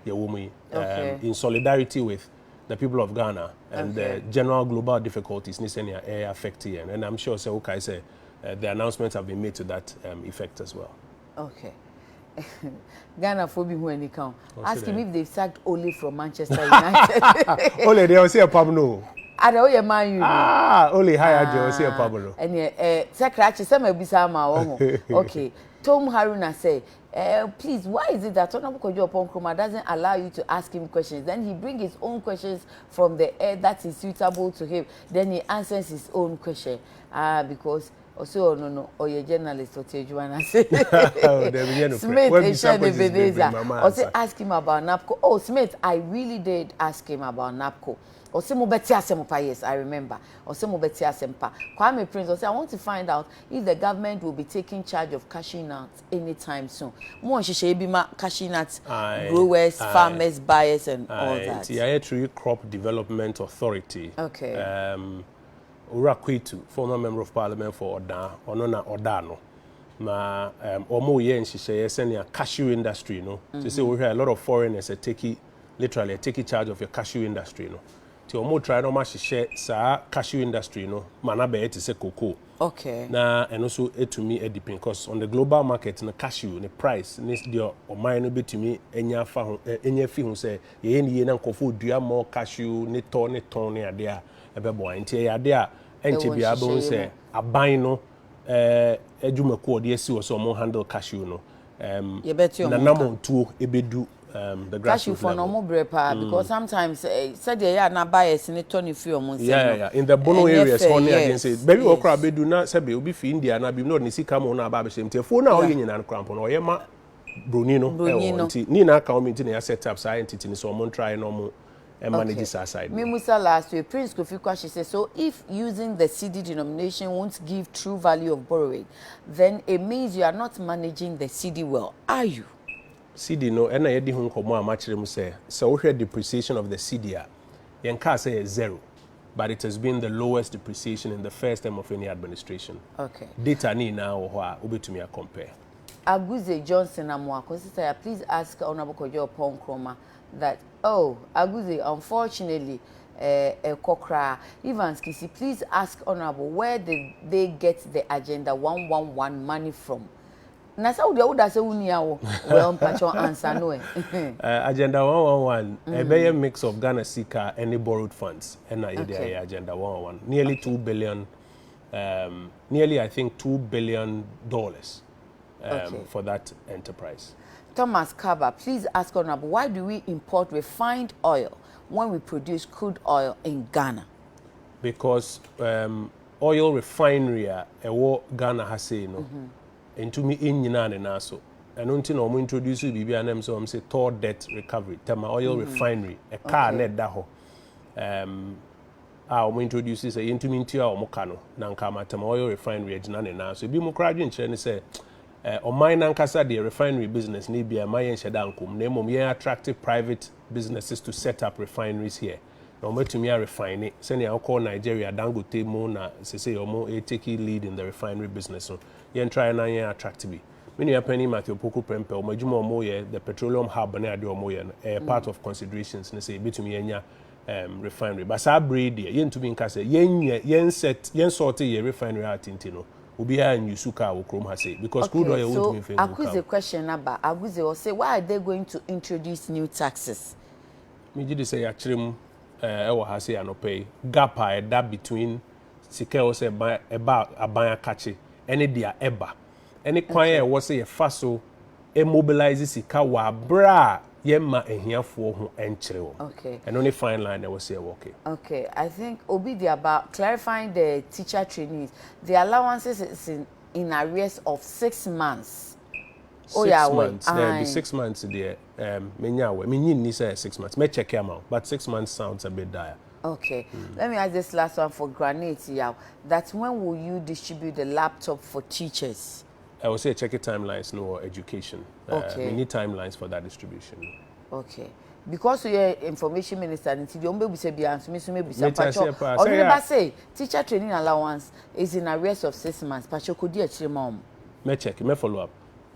yɛwɔ mu yi um, in solidarity with the people of Ghana and okay. the general global difficulties ne sɛnea ɛyɛ affect yɛn and I'm sure sɛ wokae sɛ uh, the announcements have been made to that um, effect as well. Okay. Ghana for be who any count. Ask him if they sacked Ole from Manchester United. Ole, they will say a pub no. Ada o yɛ man yu. Ah, Ole hi Ajo, o say a pub no. Ɛni ɛ sɛ krakye sɛ ma bisa ama wɔ ho. Okay, Tom Haruna said, eh, please, why is it that Honorable Kojo Oponkroma doesn't allow you to ask him questions? Then he brings his own questions from the air that is suitable to him. Then he answers his own question. Ah, because ɔsɛ ɔno no ɔyɛ journalist ɔte adwuma no ase oh, smith ɛhyɛ ne veneza ɔsɛ ask him about napco oh smith i really did ask him about napco ɔsɛ mo bɛte asɛm pa yes i remember ɔsɛ mo bɛte asɛm pa kwame prince ɔsɛ i want to find out if the government will be taking charge of cashew nuts anytime soon, mo nhyehyɛeɛ bi ma cashew nut growers, farmers, buyers and all that. Nti yɛayɛ through yi crop development authority. Okay. Um, Owura Kwetu, former member of parliament for Odan, ɔno na ɔda ano. Ma um, wɔn yɛ nhyehyɛeɛ sɛnea cashew industry no. Te sɛ wohwɛ a lot of foreigners are taking literally are taking charge of your cashew industry no. Nti wɔn try na wɔn ahyehyɛ saa cashew industry no ma n'abɛyɛ te sɛ cocoa. Okay. Na ɛno nso etumi adi pin cause on the global market no cashew ne price ne deɛ ɔman no betumi anya afa ho eh, anya afi ho sɛ yɛyɛ ne yie na nkurɔfoɔ dua mɔ cashew ne tɔ ne tɔn ne adeɛ a ɛbɛboa nti ɛyɛ adeɛ a ɛnkyɛ biara bɛhu sɛ aban no eh, adwumakuo a wɔde asi hɔ sɛ wɔn handle cashew no um, yɛbɛte ɔmo nka nanam tuo ebedu um, the grassroots level. Kashifoɔ no ɔmo brɛ paa mm. because sometimes eh, sɛdeɛ yɛ a na bias ne tɔ ne firi ɔmo nsɛm no. Yeah, yeah, in the bono areas hɔ ne adeɛ nsɛ baabi wɔ koraa bedu na sɛbe obi fi India na bi na ɔde ne sika mu na aba abɛhyɛ mu tiɛfuo na ɔyɛ nyinaa koraa mpo na ɔyɛ ma broni no ɛwɔ nti ne nyinaa ka wɔn nti na yɛ set up saa entity ne sɛ ɔmo ntrae na ɔmo ɛmma no gye saa side no. Okay, memusa last wei, Prince Kofi Kwahye sɛ, so if using the cedi denomination won't give true value of borrowing, then it means you are not managing the cedi well, are you? Cedi no, ɛna yɛadi ho nkɔmmɔ a makyerɛ mu sɛ, sɛ wohwɛ depreciation of the cedi a, yɛnkaa sɛ ɛyɛ zero, but it has been the lowest depreciation in the first term of any administration. Okay. Data ne nyinaa wɔ hɔ a wobɛtumi a compare. Aguze Johnson Amoako Sitaya, please ask Honorable Kojo Oppong Nkrumah that oh Aguze unfortunately eh ɛkɔ koraa Evans Kissi please ask honourable where did they get the agenda one one one money from na sɛ wodeɛ woda sɛ wonni a wo well mpakyɛ ansa no eh. Eh agenda one one one mm. ɛbɛyɛ mix of Ghana sika ɛne borrowed funds ɛna yɛde okay. ayɛ agenda one one one nearly okay. two billion um, nearly I think two billion dollars. um, okay. for that enterprise. Thomas Kaba, please ask Honorable, why do we import refined oil when we produce crude oil in Ghana? Because um, oil refinery a ɛwɔ Ghana ha sei no, mm-hmm. ntumi nnyina ne nan so. ɛno nti na wɔn introduce biribi a nam sɛ wɔn sɛ tall debt recovery thermal oil mm-hmm. refinery ɛkaa na ɛda hɔ a wɔn introduce sɛ yɛntumi ntua wɔn ka no na nka Matam Oil Refinery agyina ne nan so. Ebinom koraa adwenkyerɛ ne sɛ eh, ɔman nankasa deɛ refinery business no ebia ɛma yɛnhyɛ da nkom na mmom yɛn attract private businesses to set up refineries here na wɔn atumi arefine sɛnea wokɔ Nigeria Dangote mu na sese wɔn take lead in the refinery business no yɛn try na yɛn attract bi. Me nua panyin Matthew Opoku Prempeh wɔn adwuma wɔn yɛ the petroleum hub ne adeɛ wɔn yɛ no ɛyɛ part of considerations ne sɛ yɛbɛtumi anya um, refinery. Ba saa bere yi deɛ, yɛntumi nka sɛ yɛnyɛ, yɛnsɛt, yɛnsɔɔte yɛ refinery art nti no, obiara nyusu kaa wɔ kurom ha sei, because crude oil wontumi mfa ngu car. Okay, so Akuze question no aba. Aguze, ɔse, why are they going to introduce new taxes? Megye di sɛ yɛakyerɛ mu eh, ɛwɔ ha sei anɔpa yi, gap a ɛda between sika ɛwɔ sɛ ɛba aban akakye ɛne deɛ ɛba. ne kwan a ɛwɔ sɛ yɛfa so mobilise sika wɔ aberɛ a yɛmma ahiafoɔ ho nkyere wɔn. Okay. Ɛno ne fine line na ɛwɔ sɛ yɛwɔ okay. Okay, I think obi de aba clarifying the teacher trainees, the allowances is in, in arrears of six months. Six months, daabi six months deɛ. Erm menya awɛ me nyi nni sɛ six months mɛ check ama wo but six months sounds a bit dire. Okay let me ask this last one for granate yaw that when will you distribute the laptop for teachers. Ɛwɔ sɛ yɛ check timelines no wɔ education erm me nni timelines for that distribution no. Okay because wo yɛ information minister no nti deɛ ɔmo bɛ busa biara nso me nso mɛ busa mpatsɔ ɔhene ba se teacher training allowance is in arrears of six months mpatsɔ kɔ di akyire ma ɔmo. Mɛ check mɛ follow up.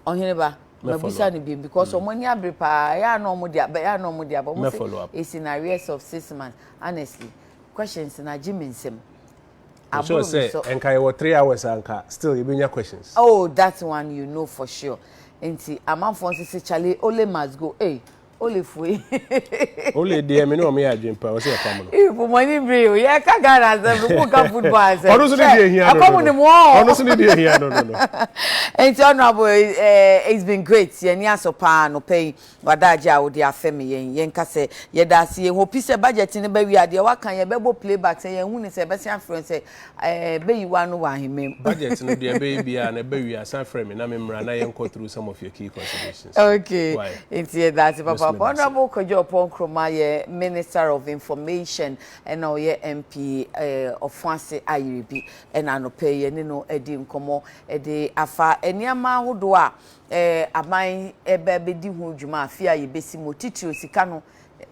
Ɔhene ba, mabisa no bio because wɔn ani abere paa, ɛyɛ a na wɔn de aba, ɛyɛ a na wɔn de aba, wɔn sɛ it's in arrears of six months, honestly, questions na agye mi nsam. Aburo mi sɛ. Nka yɛ wɔ three hours anka still yɛ bɛ nya questions. Oh that one you know for sure, nti amanfoɔ nso sɛ chale ole must go, ee Ole fue. Ole deɛ me ne wɔn yɛ adwene pa ɔsɛ ɛfam no. Ee pomani bere o yɛ ka Ghana asɛm no ko ka football asɛm. Ɔno so ne deɛ ehia no no. Ɛfam ne mu ɔɔ. Ɔno so ne deɛ ehia no no no. Nti honourable eh, it's been great yɛn ni asɔ paa anɔpɛ yi wadaagye a wode afɛ me yɛn yɛn ka sɛ yɛda ase yɛn hopi sɛ budget no bɛ wie a deɛ waka yɛn bɛ bɔ playback sɛ yɛn hu ne sɛ yɛbɛsɛn afrɛ sɛ Ɛɛ bɛyi woa no wɔ ahemman mu. Budget no deɛ ɛbɛyɛ biara no ɛba wie a san frɛ me na me mmra na yɛn kɔ through some of your key considerations. Okay nti yɛda ase papaapa Honourable Kwadu Ɔpɔn Nkrumah yɛ Minister of Information ɛna ɔyɛ MP ɛɛ Ɔfoase Ayerbi ɛna anɔpɛ yi yɛne no adi nkɔmɔ ɛde afa nneɛma ahodoɔ a ɛɛ aban ɛɛba ɛbɛdi ho dwuma afe a yɛbɛsi mu titiriw sika no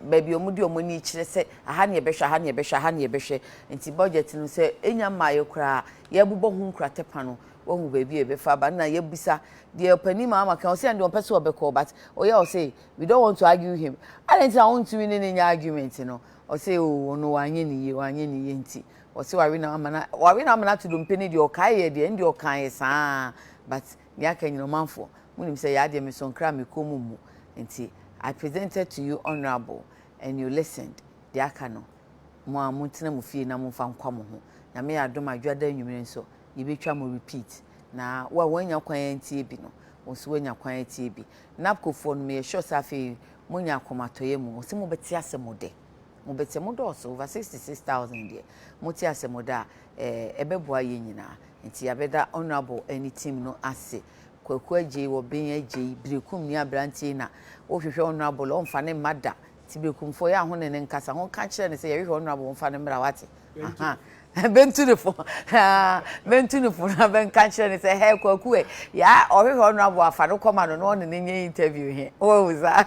baabi a wɔde wɔn ani kyerɛ sɛ aha na yɛbɛhwɛ, aha na yɛbɛhwɛ, aha na yɛbɛhwɛ. Nti budget no sɛ enya mmaeɛ koraa a, yɛbobɔ ho nkrate pa no, wahu baabi a yɛbɛfa aba. Nna yɛbisa deɛ ɔpanin maama ka, ɔse ɛno deɛ ɔmpɛ sɛ ɔbɛkɔ but ɔyɛ ɔse we don't want to argue him. Adɛn nti na wontumi ne no nyɛ argument no? Ɔse oh ɔno wanyɛ ne yie, wanyɛ ne yie nti ɔse wawe no ama no, wawe no ama no ato dompe no deɛ ɔkaeɛ deɛ, ɛno deɛ ɔkaeɛ saa but nea aka nyina ɔmanfoɔ monim sɛ yaa deɛ mesɔ nkra a mekɔɔ mu mmu nti I presented to you honourable and you listened deɛ aka no mo ara montena mo fie na momfa nkwa mo ho nyame yɛ adom a dwoada anwumere nso yɛbɛtwa mo repeat na wo a woannya kwan antie bi no wo nso woanya kwan atie bi NAPCO foɔ no meyɛ sure sɛ afei monya akomatɔyɛ mu wɔse mobɛte asɛm de. mo bɛ sɛ mo dɔɔso over sixty six thousand deɛ mo te asɛ mo da a ɛɛ ɛbɛ boa yɛ nyinaa nti yabɛ da honourable ɛne team no ase kwaku agyei wɔ ben agyei birekum ni abrantie na wo hwehwɛ honourable ɔnfa ne mma da ti birekum fo yɛ aho ne ne nkasa ho ka kyerɛ ne sɛ yɛ hwehwɛ honourable ɔnfa ne mmra wate. aha bɛntu ne fo bɛntu ne fo na bɛnka kyerɛ ne sɛ hɛ kwaku ɛ yaa ɔhwehwɛ ɔno aboa afa no kɔma no na ɔne ne nyɛ interview he wɔhu saa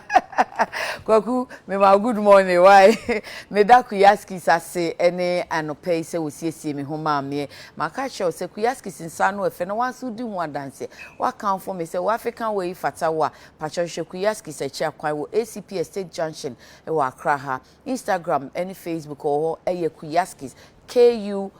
kwaku mema good morning why meda kuyaskis ase ɛne anɔpa yi sɛ wɔsiesie me ho maa meɛ maka kyerɛ wo sɛ kuyaskis nsa no ɛfɛ na wanso di ho adanseɛ wakamfo me sɛ wo african wɔ yi fata wo a pakyɛ hwɛ kuyaskis akyi akwan wɔ acps state junction wɔ akra ha Instagram ne Facebook wɔ hɔ yɛ Kuyaskis, K-U-Y-A-S-K-I-S,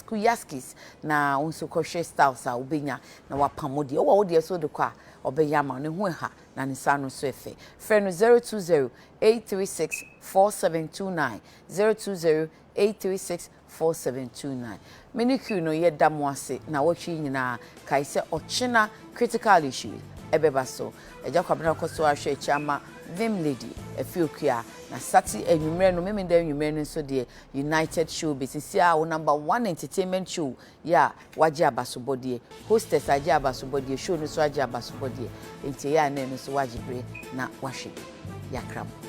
Kuyaskis, na wo nso kɔhwɛ styles a wobɛnya na wapam wo deɛ. Wowɔ wo deɛ so de kɔ a, ɔbɛyɛ ama wo. Ne ho ɛha na ne nsa ano nso ɛfɛ. Frɛ no 020 836 4729, 020 836 Four seven two nine Me ne Q no yɛ da mo ase nawɔtwe yi nyinaa kae sɛ ɔkyena critical issue yi ɛbɛba so Agya Kwabena kɔ so ara hwɛ akyi ama Vim Lady afi Okua na Sati anwummerɛ no Memeneda anwummerɛ no nso deɛ United show bɛsisi a wo number one entertainment show yɛ a wagye abasobɔdeɛ, hostess agye abasobɔdeɛ, show no nso agye abasobɔdeɛ, nti ɛyɛ a na ɛno nso wagye berɛ na wahwɛ yɛakra mu.